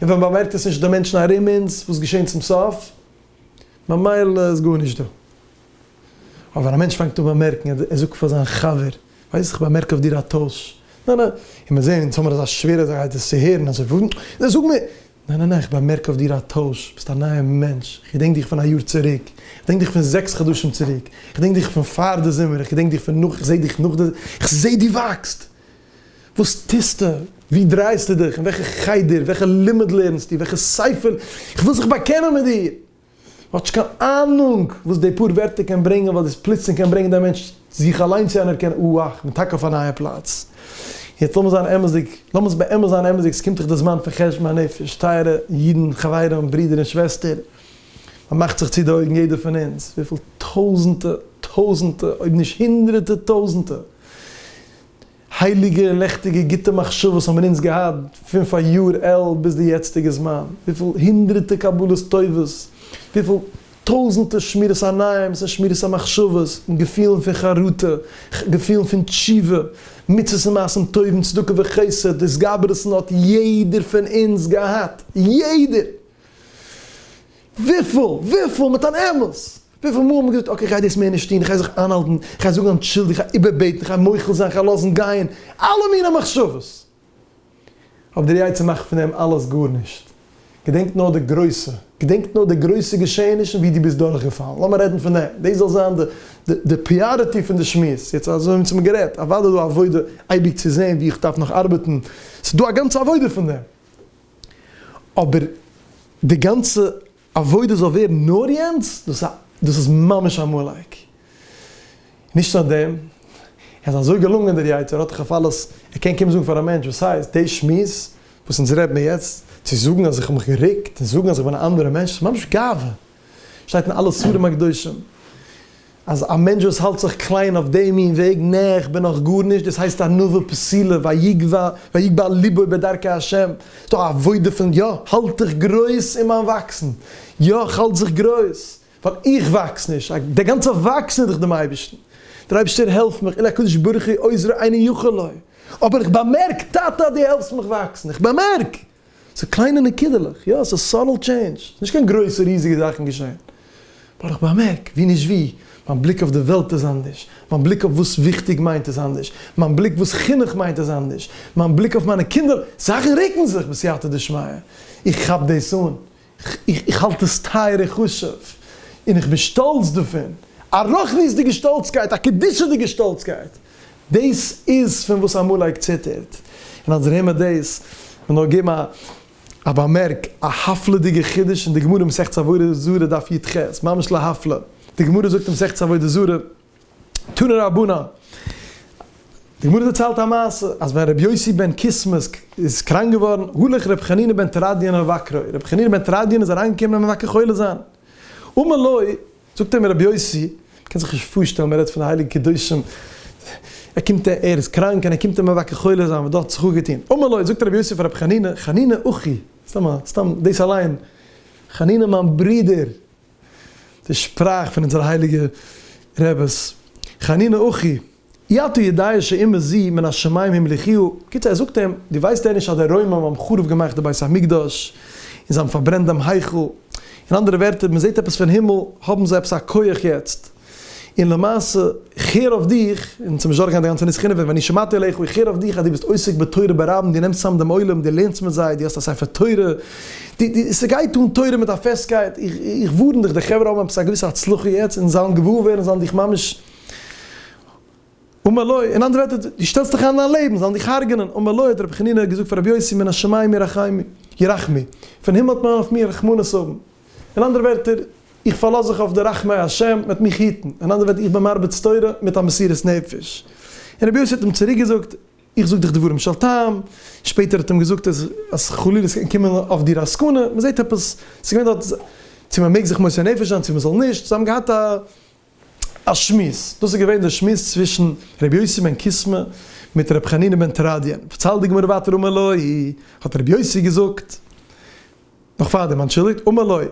און ווען מען באמערקט עס נישט אויף די מענטשן ארום אונז, וואס געשעהן צום סוף? ממילא איז גארנישט דא. אבער ווען א מענטש פאנגט אן באמערקן, ער ער זאגט פאר זיין חבר, ווייסט איך באמערק אויף דיר א טויש. ניין א. און מיר זעהן אונז האמיר אזא שווערע זאך אז דאס צו הערן, אזוי וואו? ניין זאג מיר! ניין ניין ניין, איך באמערק אויף דיר א טויש, ביסט א נייע מענטש, איך געדענק דיך פון א יאר צוריק, איך געדענק דיך פון זעקס חדשים צוריק, איך געדענק דיך פון פאר די זומער, איך געדענק דיך פון נאך, איך זעה דיך נאך די, איך זעה דו וואקסט! וואס טוסטו? וואו דרייסטו דיך? אין וועלכע חדר? וועלכע לימוד לערנסטו? וועלכע ספר? איך וויל זיך באקענען מיט דיר! האט נישט קיין אהנונג וואס די פאר ווערטער קען ברענגען ווייל דאס פלוצלינג קען ברענגען די מענטש צו זיך אליין צו אנערקענען אוה וואה כ'בין טאקע אויף א נייע פלאץ. יעצט לאמיר זיין אמת'דיג, לאמיר באמת זיין אמת'דיג ס'קומט דאך די זמן פון חשבון הנפש, טייערע אידן חברים ברידער און שוועסטער, מ'מאכט זיך צו די אויגן יעדער פון אונז וויפיל טויזענטע טויזענטע אויב נישט הונדרעטע טויזענטע, הייליגע לעכטיגע גוטע מחשבות האבן אונז געהאט פון פאר יאר על ביז די יעצטיגע זמן, וויפיל הונדרעטע קבלות טובות, וויפיל טויזענטער שמירת עינים'ס און שמירת המחשבות און געפילן פון חרטה, געפילן פון תשובה, מצוות און מעשים טובים, צדקה וחסד, התגברות'ן האט יעדער פון אונז געהאט, יעדער! וויפיל? וויפיל? מיט אן אמת! וויפיל מאל האט מען געזאגט, אקעי, כ'גיי דאס מער נישט טון, כ'גיי זיך איינהאלטן, כ'גיי זאגן אנטשולדיגט, כ'גיי איבערבעטן, כ'גיי מוחל זיין, כ'גיי לאזן גיין, אלע מיני מחשבות. אבער דער יצר מאכט פון דעם אלעס גארנישט. געדענק נאר די גרויסע, געדענק נאר די גרויסע געשעענישן ווי דו ביסט דורכגעפאלן. לאמיר רעדן פון דעם. דאס זאל זיין די פריאריטי פון די שמועס. יעצט אזוי האבן מיר גערעדט. אוודאי איז דא עבודה אייביג צו זען וואו איך דארף נאך ארבעטן. ס'איז דא א גאנצע עבודה פון דעם. אבער די גאנצע עבודה זאל ווערן נאר יענץ, דאס א דאס איז ממש א מאלייק. נישט נאר דעם, ער איז אזוי געלונגען דער יצה ר האט דאך אויף אלעס, ער קען קומען זאגן פאר א מענטש וואס הייסט, די שמועס וואס אונז רעד מיר יעצט, צו זאגן אז איך האב מיך גערוקט, און זאגן אז איך בין א אנדערע מענטש, ממש גאווה. שטייט אין אלע ספרים הקדושים אז א מענטש וואס האלט זיך קליין אויף די מין וועג, נע איך בין נאך גארנישט, דאס הייסט ענווה פסילה, ויגבה לבו בדרכי השם, ס'דא א עבודה פון יא האלט איך גרויס אין מיין וואקסן, יא איך האלט זיך גרויס, ווייל איך וואקס נישט, די גאנצע וואקסן איז דאך דעם אייבערשטן, דער אייבערשטער העלפט מיך, אלא הקדוש ברוך הוא עוזרי אינו יכול לו, אבער איך באמערק טאטע אז דו העלפסט מיך וואקסן, איך באמערק! ס'איז קליינע נקודה'לעך, יא, ס'איז סאטעל טשעינדזש, ס'איז נישט קיין גרויסע ריזיגע זאכן געשען, באט איך באמערק ווי נישט ווי, מיין בליק אויף די וועלט איז אנדערש, מיין בליק אויף וואס וויכטיג מיינט איז אנדערש, מיין בליק וואס חינוך מיינט איז אנדערש, מיין בליק אויף מיינע קינדער, זאכן רוקן זיך, בסייעתא דשמיא, איך כאפ דאס אן, איך האלט עס טייער און חשוב, און איך בין שטאלץ דערפון, א רוחניות'דיגע שטאלצקייט, א קדושה'דיגע שטאלצקייט, דאס איז פון וואס עמלק ציטערט, און אז איר הערט מיר דאס, וויל נאר געבן א באמערק, א הפלא'דיגע חידוש אין די גמרא מסכת עבודה זרה דף יט ח, ממש להפלא, די גמרא זאגט אין מסכת עבודה זרה, תנא רבנן, די גמרא דערציילט א מעשה אז ווען רבי יוסי בן קיסמא איז קראנק געווארן הלך רבי חנינא בן תרדיון אל מבקרו, רבי חנינא בן תרדיון איז אריינגעקומען אים מבקר חולה זיין, אמר לו, זאגט אים רבי יוסי, מ'קען זיך נישט פארשטעלן, מ'רעדט פון די הייליגע קדושים, ער קומט ער איז קראנק און ער קומט אים מבקר חולה זיין, וואס האט זיך אפגעטון, אמר לו, זאגט רבי יוסי פאר רבי חנינא, חנינא אחי, סתם א, סתם דאס אליין, חנינא מיין ברודער, די שפראך פון אונזערע הייליגע רעבעס, חנינא אחי, אי אתה יודע שאימא זי מן השמים המליכיהו, בקיצור ער זאגט אים, דו ווייסט דען נישט אז די רוימען האבן חרוב געמאכט די בית המקדש, און זיי האבן פארברענט דעם היכל, אין אנדערע ווערטער, מען זעט עפעס פון הימל, האבן זיי עפעס א כח יעצט. און למעשה, איך הער אויף דיך, און צום זשאר גיין די גאנצע נוסח אינעווייניג, ואני שמעתי אליך, איך הער אויף דיך אז דו ביסט עוסק בתורה ברבים, דו נעמסט צוזאם דעם עולם, דו לערנסט מיט זיי, דו האסט א ספר תורה, דו, דו, ס'גייט אן תורה מיט א פעסטקייט, איך, איך ווארן דיך, די חברה האבן עפעס א געוויסע הצלחה יעצט, און זיי וועלן געוואר ווערן, זיי וועלן דיך ממש, ומלא, אין אנדערע ווערטער, דו שטעלסט דיך איין אין א לעבן, זיי וועלן דיך הרג'נען, ומלא האט רבי חנינא געזאגט פאר רבי יוסי, מן השמים ירחמי, ירחמי, פון הימל האט מען אויף מיר רחמנות האבן, אין אנדערע ווערטער, איך פארלאז זיך אויף די רחמי השם מ'עט מיך היטן, און אנדער וועט איך בין מרביץ תורה מיט א מסירות נפש. און רבי יוסי האט אים צוריק געזאגט, איך זאג דיך דברים של טעם, שפעטער האט אים געזאגט אז אז חלילה ס'קען קומען אויף דיר א סכנה, מ'זעט עפעס, ס'איז געווען דארט צו מ'מעג זיך מוסר נפש זיין צו מ'זאל נישט, זיי האבן געהאט א. א שמועס, דאס איז געווען דער שמועס צווישן ר' יוסי בן קיסמא מיט ר' חנינא בן תרדיון, פארציילט די גמרא ווייטער אמר לוי, האט ר' יוסי געזאגט, נאך פארדעם, אנטשולדיגט, אמר לוי,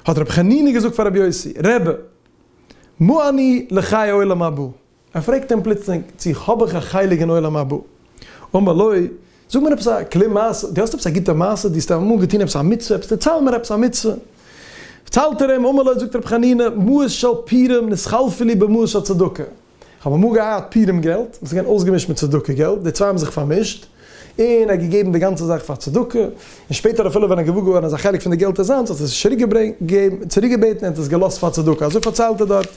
האט ר' חנינא געזאגט פאר ר' יוסי, רבי, מה אני לחיי עולם הבא, ער פרעגט אים פלוצלינג צי האב איך א חלק אין עולם הבא, אמר לוי, זאג מיר עפעס א כלי מעשה, דו האסט עפעס א גוטע מעשה, דו האסט אמאל געטון עפעס א מצוה, עפעס דערצייל מיר עפעס א מצוה. דערציילט ער אים, אמר לו, זאגט רבי חנינא, מעות של פירים נתחלפו לי במעות של צדקה, איך האב אמאל געהאט פירים געלט, וואס איז געווען אויסגעמישט מיט צדקה געלט, די צוויי האבן זיך פארמישט, און ער האט געגעבן די גאנצע זאך פאר צדקה, און שפעטער אפילו ווען ער האט געוואר געווארן אז א חלק פון די געלט איז זיינס, האט ער עס נישט צוריק געבעטן, ער האט עס געלאזט פאר צדקה, אזוי פארציילט ער דארט,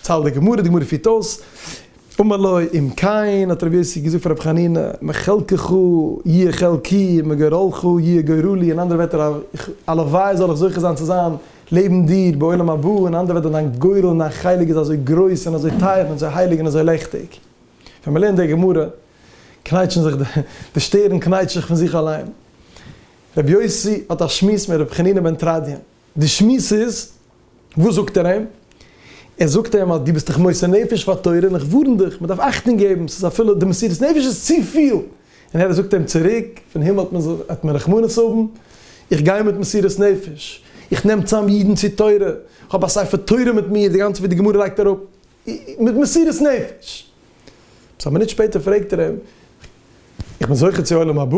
דערציילט די גמרא, די גמרא פירט אויס, אמר לו אם כן, האט רבי יוסי געזאגט פאר רבי חנינא, מחלקך יהיה חלקי, מגורלך יהיה גורלי, אין אנדערע ווערטער, הלוואי זאל איך זוכה זיין צו זיין לעבן דיר בעולם הבא, אין אנדערע ווערטער, דיין גורל און דיין חלק איז אזוי גרויס און אזוי טייער און אזוי הייליג און אזוי לעכטיג. ווען מ'לערנט די גמרא, קנייטשן זיך די, די שטערן קנייטשט זיך פון זיך אליין. רבי יוסי האט א שמועס מיט רבי חנינא בן תרדיון. די שמועס איז, וואס זאגט ער אים? ער זאגט אים אז דו ביסט דיך מוסר נפש פאר תורה און איך ווארן דיך, מען דארף אכטונג געבן, ס'איז אפילו די מסירות נפש איז צופיל, און ער זאגט אים צוריק, פון הימל האט מען האט מען רחמנות האבן, איך גיי מיט מסירות נפש, איך נעם צאם אידן צו תורה, איך האב א ספר תורה מיט מיר, די גאנצע ווי די גמרא לייגט אראפ, מיט מסירות נפש. עפעס א מינוט שפעטער פרעגט ער אים, איך בין זוכה צו עולם הבא?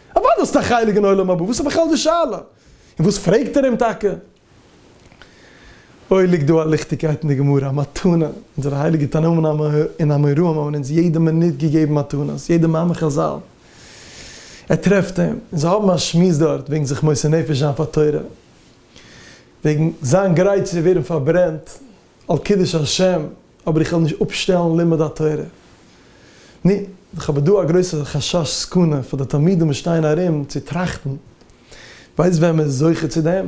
אוודאי האסטו א חלק אין עולם הבא, וואס איז בכלל די שאלה? און וואס פרעגט ער אים טאקע? אוי ליגט דא א ליכטיגקייט אין די גמרא, א מתנה, אונזערע הייליגע תנאים און אמוראים האבן אונז יעדע מינוט געגעבן מתנות, יעדע מאמר חזל, ער טרעפט אים, און זיי האבן א שמועס דארט וועגן זיך מוסר נפש זיין פאר תורה, וועגן זיין גרייט צו ווערן פארברענט. על קידוש השם, אבער איך וועל נישט אפשטעלן לימוד התורה. נו, דאך אבער דא א גרויסע חשש סכנה פאר די תלמידים וואס שטייען ארום צו טראכטן, ווייסט ווען מען איז זוכה צו דעם?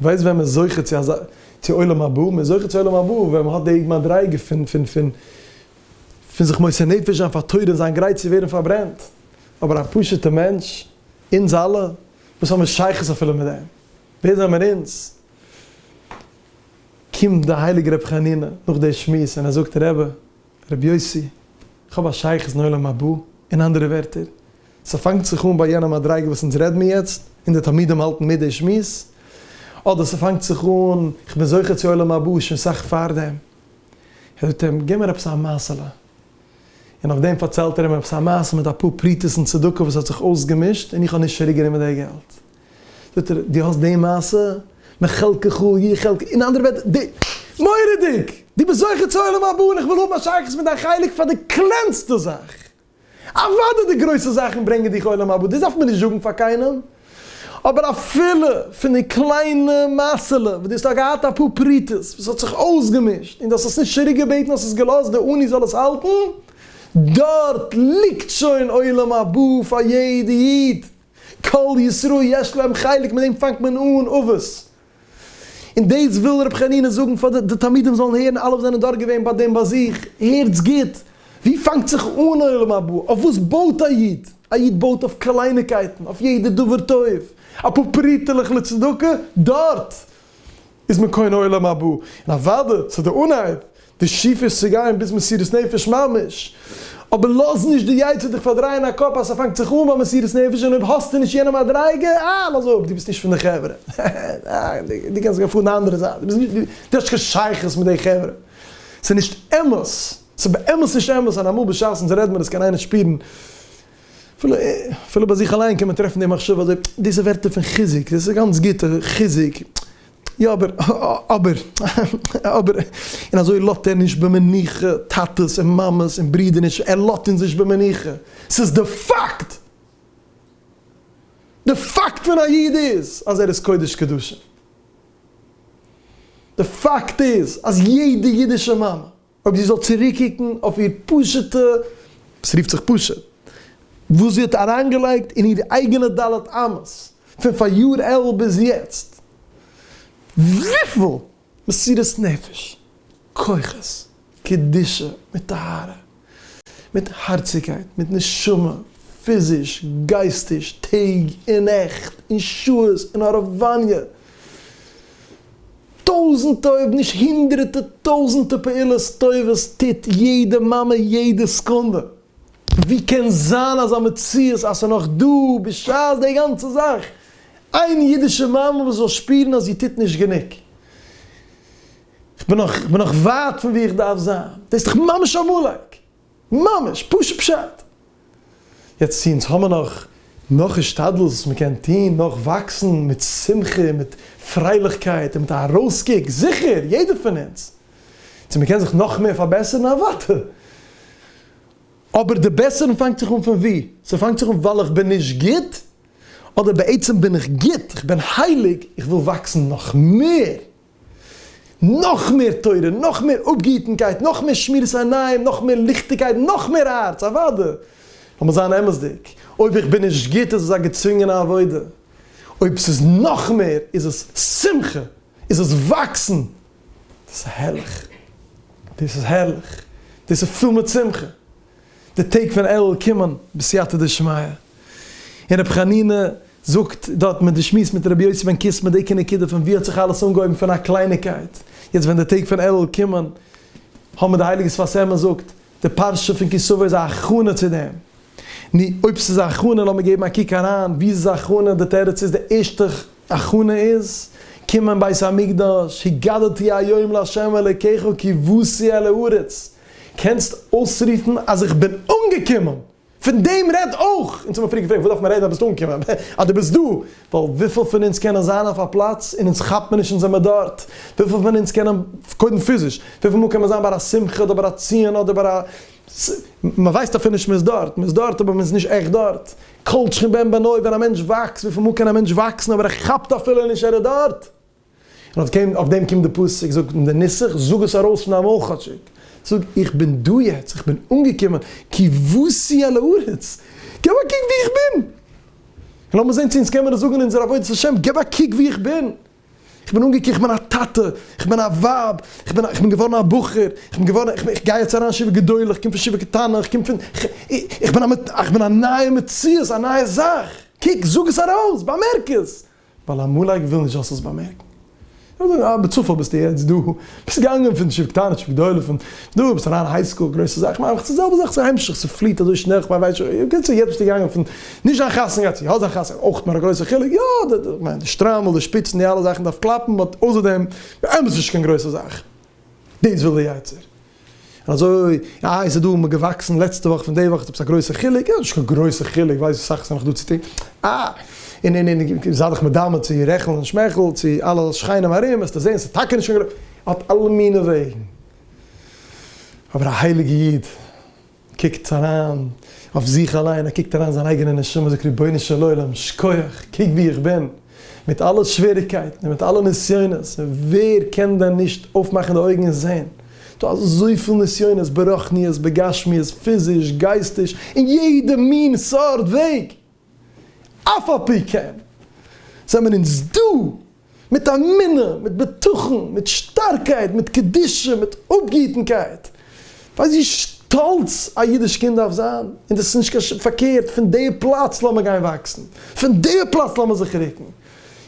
ווייסט ווען מען איז זוכה צו אזא, צו עולם הבא? מען איז זוכה צו עולם הבא ווען מען האט די מדריגה פון, פון, פון, פון זיך מוסר נפש זיין פאר תורה און זיין גרייט צו ווערן פארברענט. אבער א פשוט'ע מענטש, אונז אלע, וואס האמיר שייכות אפילו מיט דעם? ווער זעמער אונז? קומט די הייליגע רבי חנינא נאך די שמועס און ער זאגט רבי רבי יוסי כ'האב א שייכות אין עולם הבא, אין אנדערע ווערטער ס'פאנגט זיך אן ביי יענע מדריגה וואס אונז רעד מיר יעצט און די תלמידים האלטן מיט די שמועס, אדער ס'פאנגט זיך אן כ'בין זוכה צו עולם הבא שוין סאך פארדעם, ער זאגט אים גיב מיר עפעס א מעשה'לע, און אויף דעם פארציילט ער אים עפעס א מעשה מיט אפאר פרוטות און צדקה וואס האט זיך אויסגעמישט און איך האב נישט צוריק גענומען די געלט, זאגט ער, דו האסט די מעשה? מחלקך הוא יהיה חלקי, אין אנדערע ווערטער, די, מורא'דיג! דו ביסט זוכה צו עולם הבא און איך וויל האבן א שייכות מיט דיין חלק פאר די קלענסטע זאך! אוודאי די גרויסע זאכן ברענגען דיך עולם הבא, דאס דארף מען נישט זאגן פאר קיינעם, אבער אפילו פון די קליינע מעשה'לע וואס דו האסט געהאט אפאר פרוטות וואס האט זיך אויסגעמישט און דו האסט עס נישט צוריק געבעטן האסט עס געלאזט די עני זאל עס האלטן, דארט ליגט שוין עולם הבא פאר יעדע איד! כל ישראל יש להם חלק מיט דעם פאנגט מען אן אבות און דאס וויל ר' חנינא זאגן פאר די תלמידים זאלן הערן אלע וואס זענען דארט געווען ביי דעם באזוך הערטס גוט ווי פאנגט זיך אן עולם הבא אויף וואס בויט א איד א איד בויט אויף קלייניקייטן אויף יעדע דבר טוב אפאר פרוטה'לעך לצדקה דארט איז מען קונה עולם הבא, און אוודאי ס'איז די אנהייב, די שאיפה איז צו גיין ביז מסירות נפש ממש, אבער לאז נישט די יצר דיך פארדרייען א קאפ אז ס'פאנגט זיך אן ביי מסירות נפש און אויב האסטו נישט יענע מדריגה, אה, לאז אפ, דו ביסט נישט פון די חברה, דו קענסט גיין פארן די אנדערע זייט, דו ביסט נישט, דו האסט קיין שייכות מיט די חברה. ס'איז נישט אמת, ס'איז באמת נישט אמת, און אמאל בשעת'ן רעדט מען עס קען איינער שפירן. אפילו ביי זיך אליין קען מען טרעפן די מחשבה אזוי, דאס איז ווערטער פון חיזוק, דאס איז גאנץ גוט, חיזוק, יא אבער, אבער, אבער, און אזוי לאזט ער נישט במנוחה טאטעס און מאמעס און ברודערנישן, ער לאזט אונז נישט במנוחה, ס'איז די פאקט! די פאקט פון א איד איז אז ער איז קודש קדשים! די פאקט איז אז יעדע אידישע מאמע. אויב זי זאל צוריקוקן אויף איר פשוט'ע, עס רופט זיך פשוט, וואס זי האט אריינגעלייגט אין איר אייגענע ד' אמות, פון פאריאר אלול ביז יעצט, וויפיל מסירות נפש, כוחות, קדושה, מיט טהרה, מיט הארציגקייט, מיט נשמה, פיזיש, גייסטיש, טעג און נעכט, און שעות, און הארעוואניע, טויזענטע אויב נישט הונדרעטע טויזענטע פעולות טובות טוט יעדע מאמע יעדע סקונדע, ווי קען זיין אזא מציאות אז ס'איז נאך דא בשעת די גאנצע זאך איין אידישע מאמע וואס זאל שפירן אז זי טוט נישט גענוג? איך בין נאך ווייט פון ווי איך דארף זיין, דאס איז דאך ממש א מלעג! ממש פשוט פשט! יעצט צו אונז האמער נאך נאך השתדלות וואס מען קען טוהן, נאך וואקסן מיט שמחה און מיט פרייליכקייט און מיט א ארויסקוק, זיכער יעדער פון אונז, צו מען קען זיך נאך מער פארבעסערן אוואטאר, אבער די בעסערן פאנגט זיך אן פון ווי? ס'פאנגט זיך אן ווייל איך בין נישט גוט? אדער בעצם בין איך גוט, איך בין הייליג, איך וויל וואקסן נאך מער! נאך מער תורה, נאך מער אפגעהיטנקייט, נאך מער שמירת עיניים, נאך מער ליכטיגקייט, נאך מער הארץ, אוואדע! לאמיר זיין אמת'דיג, אויב איך בין נישט גוט איז עס א געצווינגענע עבודה, אויב ס'איז נאך מער איז עס שמחה, איז עס וואקסן, דאס איז הערליך, דאס איז הערליך, דאס איז פול מיט שמחה. די טעג פון אלול קומען בסייעתא דשמיא, און רבי חנינא זאגט דארט מיט די שמועס מיט רבי יוסי בן קיסמא די עיקר נקודה פון וואו האט זיך אלעס אנגעהויבן פון א קלייניגקייט, יעצט ווען די טעג פון אלול קומען האבן די הייליגע שפת אמת זאגט די פרשה פון כי סבא איז א הכנה צו דעם, נו אויב ס'איז א הכנה לאמיר געבן א קוק אריין וואו איז עס א הכנה, די תירוץ איז די ערשטע הכנה איז קומען בית המקדש, הגדתי היום לה' אלוקיך כבשי על הארץ, קענסט אויסרופן אז איך בין אנגעקומען! פון דעם רעד אויך! אונז האבן פריער געפרעגט וואס דארף מען רעדן אז ביסט אנגעקומען? אז דו ביסט דא! ווייל וויפיל פון אונז קענען זיין אויף א פלאץ און אונז כאפט מיר נישט אונז זעמער דארט? וויפיל פון אונז קענען, קודם פיזיש, וויפיל מאל קען מען זיין ביי א שמחה אדער ביי א ציון אדער ביי א ס מ ווייסט אפילו נישט מ'איז דארט, מ'איז דארט אבער מ'איז נישט עכט דארט. כל שכן בן בנו ווען א מענטש וואקסט, וויפיל מאל קען א מענטש וואקסן אבער ער כאפט אפילו נישט ער איז דארט? און אויף דעם קומט די פסוק, זאגט אין די נוסח, זאג עס ארויס פון דיין מויל כאטשיג, זאג, איך בין דא יעצט, איך בין אנגעקומען, כבשי על הארץ, געב א קוק וואו איך בין, און לאמיר זען צו אונז קען מיר עס זאגן אין אונזער עבודת השם, געב א קוק וואו איך בין, איך בין אנגעקומען, איך בין א טאטע, איך בין א ווייב, איך בין איך בין געווארן א בחור, איך בין געווארן, איך גיי יעצט אריין אין שיעור גדול, איך קום פון שיעור קטנה, איך קום פון, איך בין א נייע מציאות, א נייע זאך, קוק, זאג עס ארויס, באמערק עס, ווייל עמלק וויל נישט זאלסט עס באמערקן. איך וועל זאגן, אה, בצפון ביסטו יעצט דא, ביסט געגאנגען פון ישיבה קטנה צו גדולה, פון דא ביסט אריין היי סקול, גרויסע זאך, כ'מיין עפעס די זעלבע זאך, ס'המשך, ס'פליעט אזוי שנעל, כ'מיין ווייסט שוין, בקיצור יעצט ביסטו געגאנגען פון נישט זיין חתן גייט צו יא זיין חתן, אויך נאר א גרויסע חילוק, יא, די, כ'מיין די שטריימל, די שפיצן, די אלע זאכן דארף קלאפן, באט אויסער דעם, באמת נישט קיין גרויסע זאך. דאס וויל די יצר. אזוי אה איז עס דא מיר געוואקסן לעצטע וואך פון די וואך איז עפעס א גרויסע חילוק, יא נישט קיין גרויסע חילוק ווייל ס'איז אסאך ס'נאך דא צו טון, אה און און און זיי דיך מדמה צו רעכעל און שמעכעל צו אלע שכנים ארום וועסטו זעהן ס'איז טאקע נישט קיין גרויסע האט אלע מיני וועגן אבער א הייליגע איד. קוקט אריין אויף זיך אליין, ער קוקט אריין אין זיין אייגענע נשמה, זאגט רבונו של עולם שכוח, קוק ווי איך בין, מיט אלע שוועריקייטן און מיט אלע נסיונות, ווער קען דען נישט אויפמאכן די אויגן און זען, דא אזויפיל נסיונות ברחניות, בגשמיות, פיזיש, גייסטיש, אין יעדע מין סארט וועג! אף על פי כן זעמער אונז דא מיט אמונה, מיט בטחון, מיט שטארקייט, מיט קדושה, מיט אפגעהיטנקייט, ווייסט ווי שטאלץ א אידיש קינד דארף זיין? און דאס איז נישט קיין ש. פארקערט, פון די פלאץ לאמיר גיין וואקסן, פון די פלאץ לאמיר זיך ריקן,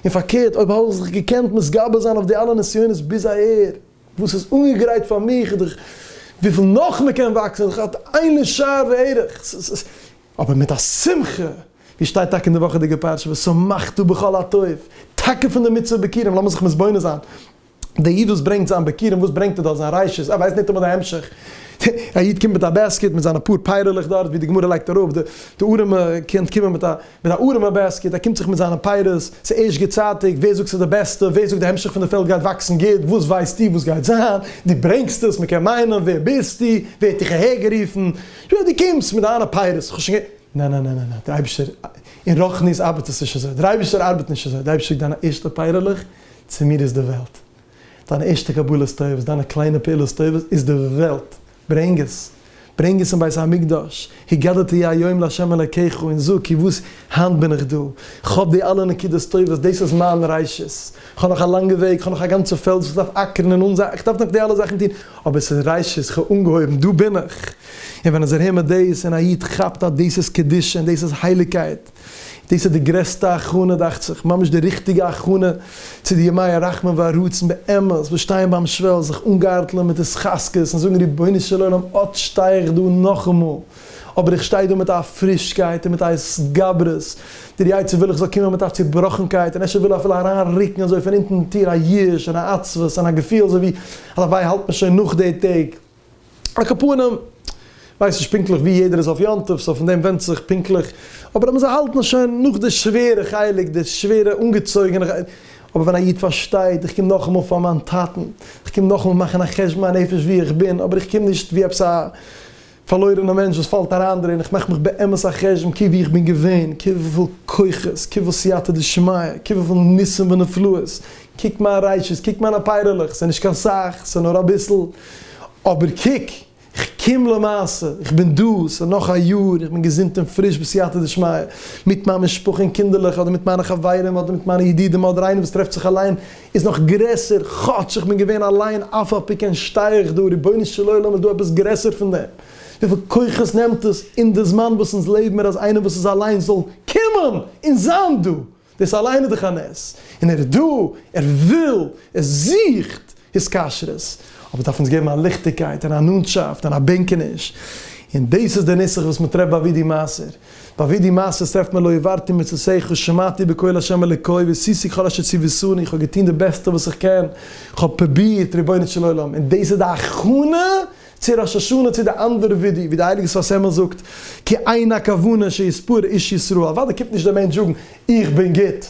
און פארקערט, אויב האב איך זיך געקענט מתגבר זיין אויף די אלע נסיונות ביז אהער, וואס איז אנגעגרייט פאר מיך, וויפיל נאך מען קען וואקסן, איז דאך אט איין לשער וערך, אבער מיט א שמחה, ווי שטייט טאקע אין די וואכעדיגע פרשה ושמחתו בכל הטוב, טאקע פון די מצוה ביכורים, לאמיר זיך מתבונן זיין, דער איד וואס ברענגט זיין ביכורים, וואס ברענגט ער דארט, זיין ריישות, ער ווייסט ניטאמאל די המשך, א איד קומט מיט א בעסקיט מיט זיינע פאר פייערעלעך דארט, ווי די גמרא לייגט אראפ, די ארעמע קען קומען מיט א מיט א ארעמע בעסקיט, ער קומט זיך מיט זיינע פירות, ס'איז ערשט גוטצייטיג, ווער זאגט ס'איז די בעסטע, ווער זאגט די המשך פון די פעלד גייט וואקסן גוט, וואס ווייסטו וואס גייט זיין, דו ברענגסט עס, מ'קען מיינען, ווער ביסטו, ווער האט דיך אהער גערופן, יא די קומסט מיט דיינע פייערס, כ'האב שוין גע. נע נע נע נע נע, דער אייבישטער, אין רוחניות ארבעט עס נישט אזוי, דער אייבישטער ארבעט נישט אזוי, דער אייבישטער זאגט דיינע ערשטע פייערלעך, צו מיר איז די וועלט. דיינע ערשטע קבלות טובות, דיינע קליינע פעולות טובות, איז די וועלט. ברענג עס. ברענג עס אין בית המקדש, הגדת י היום לה' אלקיך, און זאג, כי וואס, היינט בין איך דא, כ'האב די אלע נקודות טובות, דאס איז מיין ראשית. כ'האב נאך א לאנגע וועג, כ'האב נאך א גאנצע פעלד וואס כ'דארף אקערן און אנזייען, איך דארף נאך די אלע זאכן טון, אבער ס'איז ראשית, כ'האב אנגעהויבן, דא בין איך! און ווען איך הער מיר דאס, און א איד כאפט אז דאס איז קדושה און דאס איז הייליגקייט, דאס איז די גרעסטע הכנה דאכט זיך, ממש די ריכטיגע הכנה צו די ימי הרחמים והרצון באמת, וואס שטייען ביים שוועל, זיך אנגארטלען מיט התחזקות און זאגן רבונו של עולם אט שטיי איך דא נאכאמאל, אבער איך שטיי דא מיט א פרישקייט און מיט א התגברות, דער יצר וויל איך זאל קומען מיט א צובראכנקייט, און אפשר וויל ער אפילו אריין רוקן אזוי פון אונטן די טיר א יאוש און א עצבות און א געפיל אזוי ווי הלוואי האלט מען שוין נאך די טעג. על כל פנים, כ'ווייס נישט פונקטליך ווי יעדער איז אויף יום טוב, סאו פון דעם ווענדט זיך פונקטליך, אבער אז מ'זאל האלטן שוין נאך די שווערע חלק, די שווערע אנגעצויגענע, אבער ווען א איד פארשטייט, איך קום נאכאמאל פאר מיין טאטן, איך קום נאכאמאל מאכן א חשבון הנפש ווי איך בין, אבער איך קום נישט ווי עפעס א. פארלוירענע מענטש וואס פאלט אריין דערין, איך מאך מיך באמת א חשבון קוק ווי איך בין געווען, קוק וויפיל כוחות, קוק וויפיל סייעתא דשמיא, קוק וויפיל ניסים ונפלאות, קוק מיין רייצ'עס, קוק מיינע פייערעלעך, ס'נישט קיין סאך, ס'נאר אביסל, אבער קוק, איך קום למעשה, איך בין דא, ס'נאך א יאר, איך בין געזונט און פריש בסייעתא דשמיא, מיט מיין משפחה און קינדערלעך, אדער מיט מיינע חברים, אדער מיט מיינע ידידים, אדער איינער וואס טרעפט זיך אליין, איז נאך גרעסער, כאטש איך בין געווען אליין אף א פי כן שטיי איך דא, רבונו של עולם איז דא עפעס גרעסער פון דעם? וויפיל כוחות נעמט עס אין די זמן וואס אונז לעבן מיר אז איינער וואס איז אליין זאל קומען און זיין דא, דאס אליין איז דאך א נס, און ער איז דא, ער וויל, ער זוכט התקשרות, אבער דארף אונז געבן א ליכטיגקייט און א נאנטשאפט און א בענקעניש, און דאס איז די נוסח וואס מיט ר' בער ווי די מעשר. ביי ווי די מעשה טרעפט מען לא העברתי מצותיך, שמעתי בקול ה' אלוקי, ועשיתי כל אשר ציוותני, איך האב געטון די בעסטע וואס איך קען, איך האב פרובירט, רבונו של עולם, און דאס איז די הכנה צו ראש השנה צו די אנדערע ווידוי, ווי די הייליגע שפת אמת זאגט, כי אין הכוונה שיספור איש ישרו, אוודאי קומט נישט דער מענטש זאגן, איך בין גוט,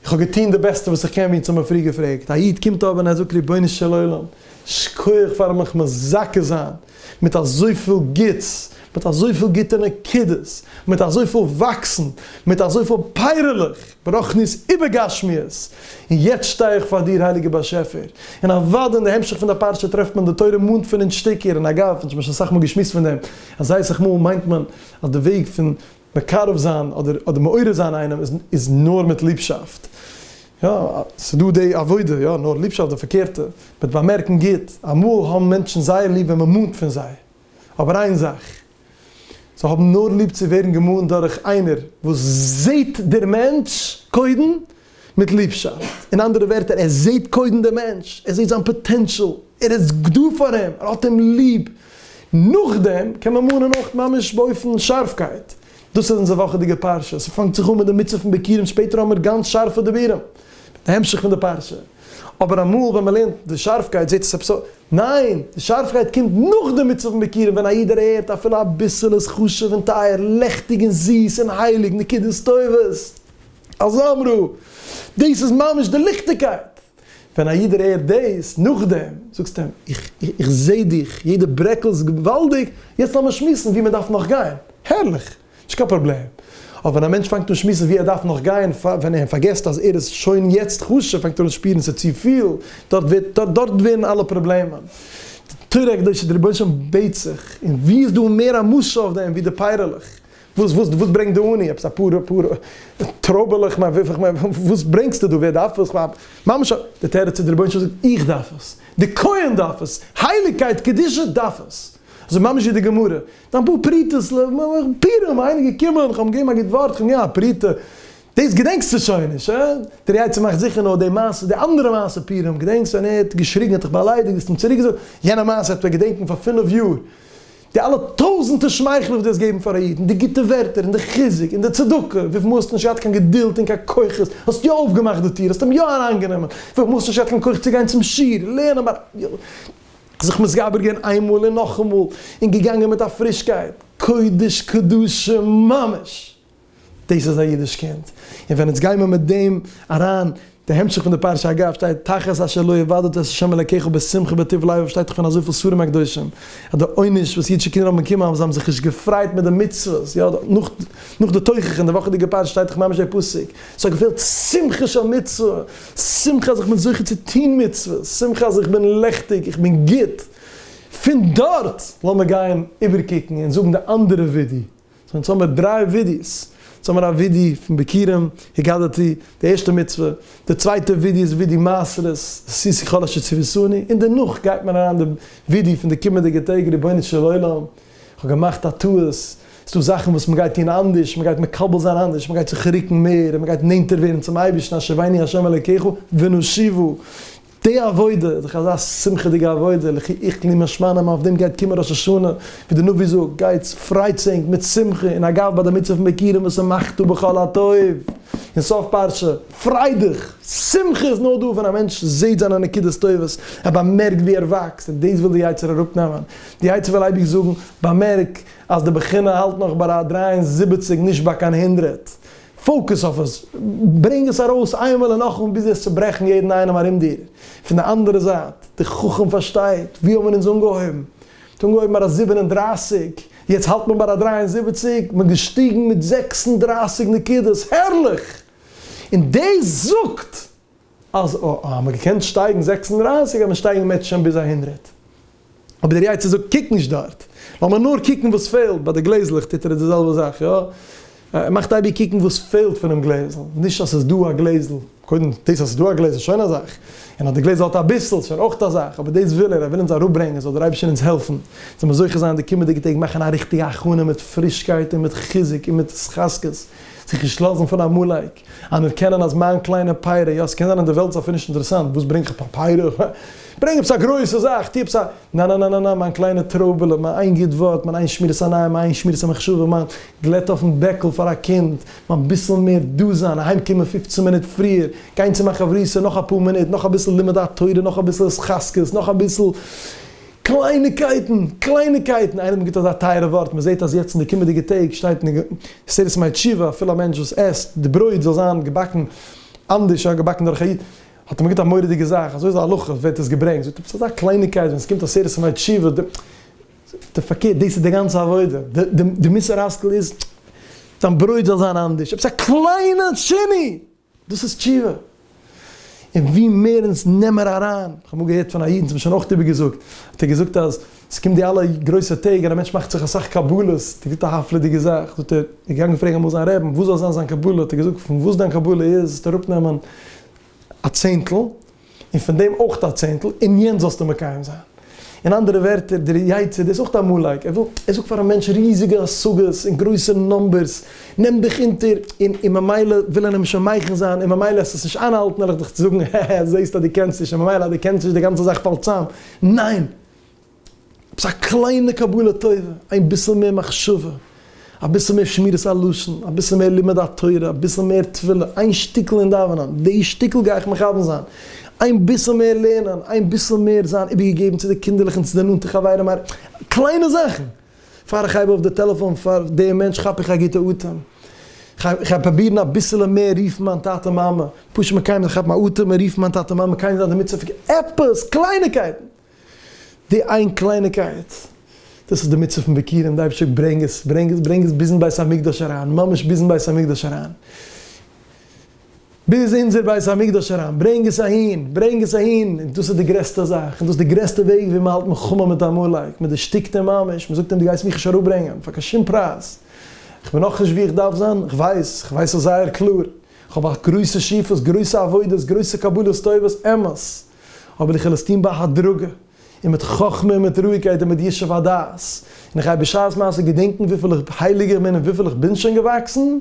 איך האב געטון די בעסטע וואס איך קען, ווי אונז האבן פריער געפרעגט, א איד קומט אבער און ער זאגט, רבונו של עולם, שכוח פארן מיך מזכה זיין, מיט אזויפיל גוטס, מיט אזויפיל גוטע נקודות, מיט אזויפיל וואקסן, מיט אזויפיל פייערלעך, ברוחניות איבער גשמיות, און יעצט שטיי איך פאר דיר הייליגער באשעפער, און אוודאי אין די המשך פון די פרשה טרעפט מען די תורה מאנט פון אין שטיקער, און אגב, אונז האבן שוין אסאך מאל געשמועסט פון דעם, אז זייער אסאך מאל מיינט מען אז די וועג פון. מקרב זיין אדער אדער מעורר זיין איינעם איז איז נאר מיט ליבשאפט. יא, ס'איז דא די עבודה, יא, נאר ליבשאפט די פארקערטע, מיט באמערקן גוט. אמאל האבן מענטשן זייער ליב ווען מען מאנט פון זיי, אבער איין זאך, זיי האבן נאר ליב צו ווערן געמאנט דורך איינער וואס זעט דער מענטש קודם, מיט ליבשאפט, אין אנדערע ווערטער, ער זעט קודם דעם מענטש, ער זעט זיין פאטענשאל, ער איז דא פאר אים, ער האט אים ליב, נאכדעם קען מען מאנען אויך ממש באופן שארפקייט, דאס איז אונזער וואכעדיגע פרשה, ס'פאנגט זיך אן מיט די מצוה פון ביקורים, שפעטער האמיר גאנץ שארפע דיבורים, די המשך פון די פרשה, אבער אמאל ווען מען לערנט די שארפקייט זעט עס עפעס אויס, ניין, די שארפקייט קומט נאך די מצוה פון ביקורים ווען א איד דערהערט אפילו אביסל איז חשוב און טייער, לעכטיג און זיס און הייליג, נקודות טובות. אז אמרו, דאס איז ממש די ליכטיגקייט! ווען א איד הערט דאס, נאכדעם זאגסטו אים, איך איך זע דיך, יעדע ברעקל איז געוואלדיג, יעצט לאמיר שמועסן וואו מען דארף נאך גיין, הערליך! נישט קיין פראבלעם. אבער ווען א מענטש פאנגט אן שמועסן וואו ער דארף נאך גיין, ווען ער פארגעסט אז ער איז שוין יעצט חשוב, פאנגט ער אן שפירן ס'איז צופיל, דארט ווערט דארט ווערן אלע פראבלעמען. די תורה הקדושה, דער רבונו של עולם בעט זיך, און וואו איז דא מער א משל אויף דעם ווי די פייערלעך? וואס וואס וואס ברענגט די עני? עפעס אפאר אפאר טרויבעלעך? מיין וויפיל כ'מיין וואס ברענגסטו דא? ווער דארף עס? כ'מיין ממש א. די תירוץ איז די רבונו של עולם זאגט איך דארף עס, די כהן דארף עס, הייליגקייט קדושה דארף עס. אזוי ממש ווי די גמרא. דיין פאר פרוטות ל ע פורים איינער געקומען כ'האב אים געגעבן א גוט ווארט כ'האב אים געגעבן א פרוטה. דאס געדענקסטו שוין נישט הא? דער יצר מאכט זיכער נאר די מעשה, די אנדערע מעשה פורים געדענקסט ווען ער האט געשריגן האט דיך באליידיגט האסט אים צוריקגעזאגט? יענע מעשה וועט מען געדענקן פאר פינף יאר. די אלע טויזענטער שמייכלער וואס דו האסט געבן פאר א איד, און די גוטע ווערטער, און די חיזוק, און די צדקה, וויפיל מאל האסטו נישט געהאט קיין געדולד און קיין כוחות, האסט יא אויפגעמאכט די טיר, האסט אים יא אריינגענומען, וויפיל מאל האסטו נישט געהאט קיין כח צו גיין צום שיעור, לערנען ביי די, זיך מתגבר געווען איינמאל און נאכאמאל, און געגאנגען מיט א פרישקייט, קודש קדשים ממש! דאס איז א אידיש קינד. און ווען אונז גיימער מיט דעם אריין, די המשך פון די פרשה אגב שטייט תחת אשר לא עבדת את ה' אלקיך בשמחה בטוב לבב שטייט דאך פון אזויפיל ספרים הקדושים אז די עונש וואס אידישע קינדער האבן באקומען אז זיי האבן זיך נישט געפרייט מיט די מצוות יא נאך נאך די תוכחה אין די וואכעדיגע פרשה שטייט דאך ממש דער פסוק ס'האט געפעלט שמחה של מצוה שמחה אז איך בין זוכה צו טוהן מצוות שמחה אז איך בין לעכטיג איך בין גוט פון דארט לאמיר גיין איבערקוקן און זאגן די אנדערע ווידיא. סאו יעצט האמיר דריי ווידעאס, יעצט האמיר א ווידעא פון ביכורים, הגדתי, די ערשטע מצוה, די צווייטע ווידעא איז ווידעא מעשרות, עשיתי כל אשר ציוויתני, און דערנאך גייט מען אריין די ווידעא פון די קומענדיגע טעג, רבונו של עולם, כ'האב געמאכט א טעות, ס'דא זאכן וואס מ'גייט טון אנדערש, מ'גייט מקבל זיין אנדערש, מ'גייט זיך רוקן מער, מ'גייט נענטער ווערן צום אייבערשטן, אשר ואני ה' אלקיך ונשיבו. די עבודה, זיך אזא שמחה'דיגע עבודה, לכי איכא לי משמע לן, אויף דעם גייט קומען ראש השנה, ווי די נביא זאגט, גייטס, פרייטס ענק מיט שמחה און אגב ביי די מצוה פון בקירים וואס איז מחטא בכל הטוב, אין סוף פרשה, פריי דיך! שמחה איז נאר דא ווען א מענטש זעהט זיינע נקודות טובות, ער באמערקט ווי ער וואקסט, און דאס וויל די יצה ר אראפנעמען, די יצה ר וויל אייביג זאגן, באמערק אז די בחינה האלט נאך ביי א דרײַ און זיבעציק נישט ביי קיין הונדרעט, פאוקוס אויף עס, ברענג עס ארויס איינמאל און נאכאמאל ביז וועסט צוברעכן יעדן איינעם ארום דיר. פון די אנדערע זייט, די חכם פארשטייט, ווי האבן מיר אונז אנגעהויבן? מ'האט אנגעהויבן ביי א זיבן און דרײַסיק, יעצט האלט מען ביי א דרײַ און זיבעציק, מ'איז געשטיגן מיט זעקס און דרײַסיק נקודות, הערליך! און דאס זאגט אז א א האמער געקענט שטייגן זעקס און דרײַסיק וועט מען שטייגן מעטש שוין ביז א הונדרעט. אבער דער יצר זאגט קוק נישט דארט, לאמיר נאר קוקן וואס פעלט, ביי די גלעזלעך טוט ער די זעלבע זאך יא, ער מאכט אייביג קוקן וואס פעלט פונעם גלעזל, נישט אז ס'איז דא א גלעזל, קודם דאס אז ס'איז דא א גלעזל איז שוין א זאך, און אז די גלעזל האט אביסל איז שוין אויך א זאך, אבער דאס וויל ער, ער וויל אונז אראפברענגען, זאל דער אייבערשטער אונז העלפן, זאל מען זוכה זיין די קומענדיגע טעג מאכן א ריכטיגע הכנה מיט פרישקייט און מיט חיזוק און מיט התחזקות, זיך נישט לאזן פון עמלק. אנערקענען אז מיין קליינע פייער יא, ס'קען זיין אז די וועלט איז אפילו נישט אינטערעסאנט, וואס ברענג איך פאר פייער, אה, ברענג עפעס א גרויסע זאך, טו עפעס א, נאנאנאנאנא, מיין קליינע טרויבעלע, מיין איין גוט ווארט, מיין איין שמירת עניים, מיין איין שמירת המחשבה, מיין גלעט אויפן בעקל פאר א קינד, מיין ביסל מער דא זיין, אהיים קומען פופצן מינוט פריער, גיין צו מיין חברותא נאך אפאר מינוט, נאך אביסל לימוד התורה, נאך אביסל התחזקות, נאך אביסל. קלייניקייטן! קלייניקייטן! איינער האט מיר געטון אזא טייערע ווארט, מען זעט אז יעצט אין די קומענדיגע טעג שטייט אין עשרת ימי תשובה, אפילו א מענטש וואס עסט, די ברויט זאל זיין געבאקן אנדערש, יא געבאקן דורך א איד, האט ער מיר געטון א מורא'דיגע זאך, אזוי איז די הלכה, ווערט עס געברענגט, זאגט ער ביסט אזא קלייניקייט, ווען עס קומט עשרת ימי תשובה, די, די פארקערט, דאס איז די גאנצע עבודה, די, די מוסר השכל איז, דיין ברויט זאל זיין אנדערש, עפעס א קליינע שינוי! דאס איז תשובה. און ווי מער אונז נעמער אריין, איך האב אמאל געהערט פון א איד, אונז האבן שוין אויך איבער געזאגט, האט ער געזאגט אז עס קומט די אלע גרויסע טעג און א מענטש מאכט זיך אסאך קבלות, דער גוטע הפלא'דיגע זאך, זאגט ער, ער איז געגאנגען פרעגן אמאל זיין רעבן וואס זאל זיין זיין קבלה, האט ער געזאגט פון וואס דיין קבלה איז זאלסטו אראפ נעמען א צענטל, און פון דעם אויך א צענטל, און יענץ זאלסטו מקיים זיין. אין אנדערע ווערטער, דער יצר דער איז אויך א מאלייק, ער וויל, ער זאגט פאר א מענטש ריזיגע השגות און גרויסע נומבערס, נעם דיך אונטער, און און ממילא וויל ער נמשל מייחן זיין, און ממילא עסט עס נישט איינהאלטן, וועל איך דיך זאגן, הע הע, זעהסט אז דו קענסט נישט, און ממילא אז דו קענסט נישט, די גאנצע זאך פאלט צאם. ניין! עפעס א קליינע קבלה טובה, איין ביסל מער מחשבה, אביסל מער שמירת הלשון, אביסל מער לימוד התורה, אביסל מער תפילה, איין שטיקל אין דאווענען, די שטיקל גיי איך מכוון זיין, איין ביסל מער לערנען, איין ביסל מער זיין איבערגעגעבן צו די קינדערלעך און צו די נאנטע חברים, קליינע זאכן. פאר איך הייב אויף די טעלעפאן פאר די מענטש כאפ איך א גוטע אטעם, איך גיי פרובירן אביסעלע מער רופן מיין טאטע מאמע, פשוט מקיים זיין, כאפן א אטעם און רופן מיין טאטע מאמע, קיינער איז נישט אינמיטן צו פארגעסן, עפעס, קלייניקייטן. די איין קלייניקייט, דאס איז די מצוה פון ביכורים, די אייבערשטער ברענג עס, ברענג עס, ברענג עס ביזן בית המקדש אריין, ממש ביזן בית המקדש אריין, ביז אונזער בית המקדש אריין, ברענג עס אהין, ברענג עס אהין, און דאס איז די גרעסטע זאך, און דאס איז די גרעסטע וועג ווי מען האלט מלחמה מיט עמלק, מען דערשטיקט אים ממש, מען זאגט אים דו גייסט מיך נישט אראפברענגען פאר קיין שום פרייז, איך בין נאכנישט ווי איך דארף זיין, איך ווייס, איך ווייס עס זייער קלאר, איך האב א גרויסע שאיפות, גרויסע עבודות, גרויסע קבלות טובות, אמת. אבער איך וויל עס טון בהדרגה, און מיט חכמה און מיט רואיגקייט און מיט ישוב הדעת, און איך גיי בשעת מעשה געדענקן וויפיל איך הייליג איך בין און וויפיל איך בין שוין געוואקסן, און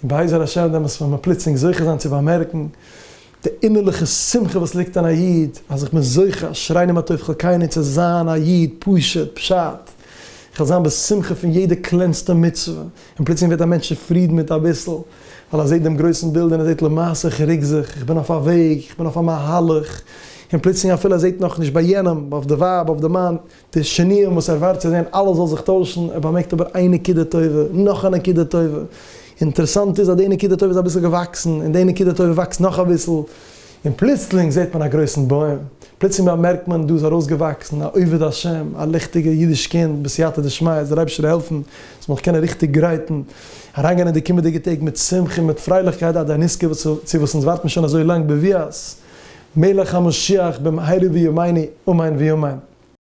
בעזר השם דעמאלטס וועט מען פלוצלינג זוכה זיין צו באמערקן די אינערליכע שמחה וואס ליגט אין א איד, אז איך בין זוכה, אשרינו מה טוב חלקינו, צו זיין א איד פשוט, פשט, איך וועל זיין בשמחה פון יעדע קלענסטע מצוה, און פלוצלינג ווערט א מענטש צופרידן מיט אביסל. ווייל ער זעט דעם גרויסן בילד און ער זעט למעשה איך ריק זיך, איך בין אויף א וועג, איך בין אויף א מהלך, און פלוצלינג אפילו ער זעט נאכנישט ביי יענעם, אויף די ווייב, אויף די מאן, די שונאים וואס ער ווארט צו זען אלעס זאל זיך טוישן, ער באמערקט אבער איין נקודה טובה, נאך א נקודה טובה, אינטערעסאנט איז אז די נקודה טובה איז אביסל געוואקסן, און די נקודה טובה וואקסט נאך אביסל, און פלוצלינג זעט מען א גרויסן בוים, פלוצלינג באמערקט מען דא איז ארויסגעוואקסן א עובד השם, א ליכטיגע אידיש קינד בסייעתא דשמיא, זאל אייבערשטער העלפן עס מ'זאל קענען ריכטיג גרייטן אריינגיין אין די קומענדיגע טעג מיט שמחה און מיט פרייליכקייט עד הנזכר וואס צו וואס אונז ווארטן שוין אזוי לאנג בביאת מלך המשיח במהרה בימינו אמן ואמן.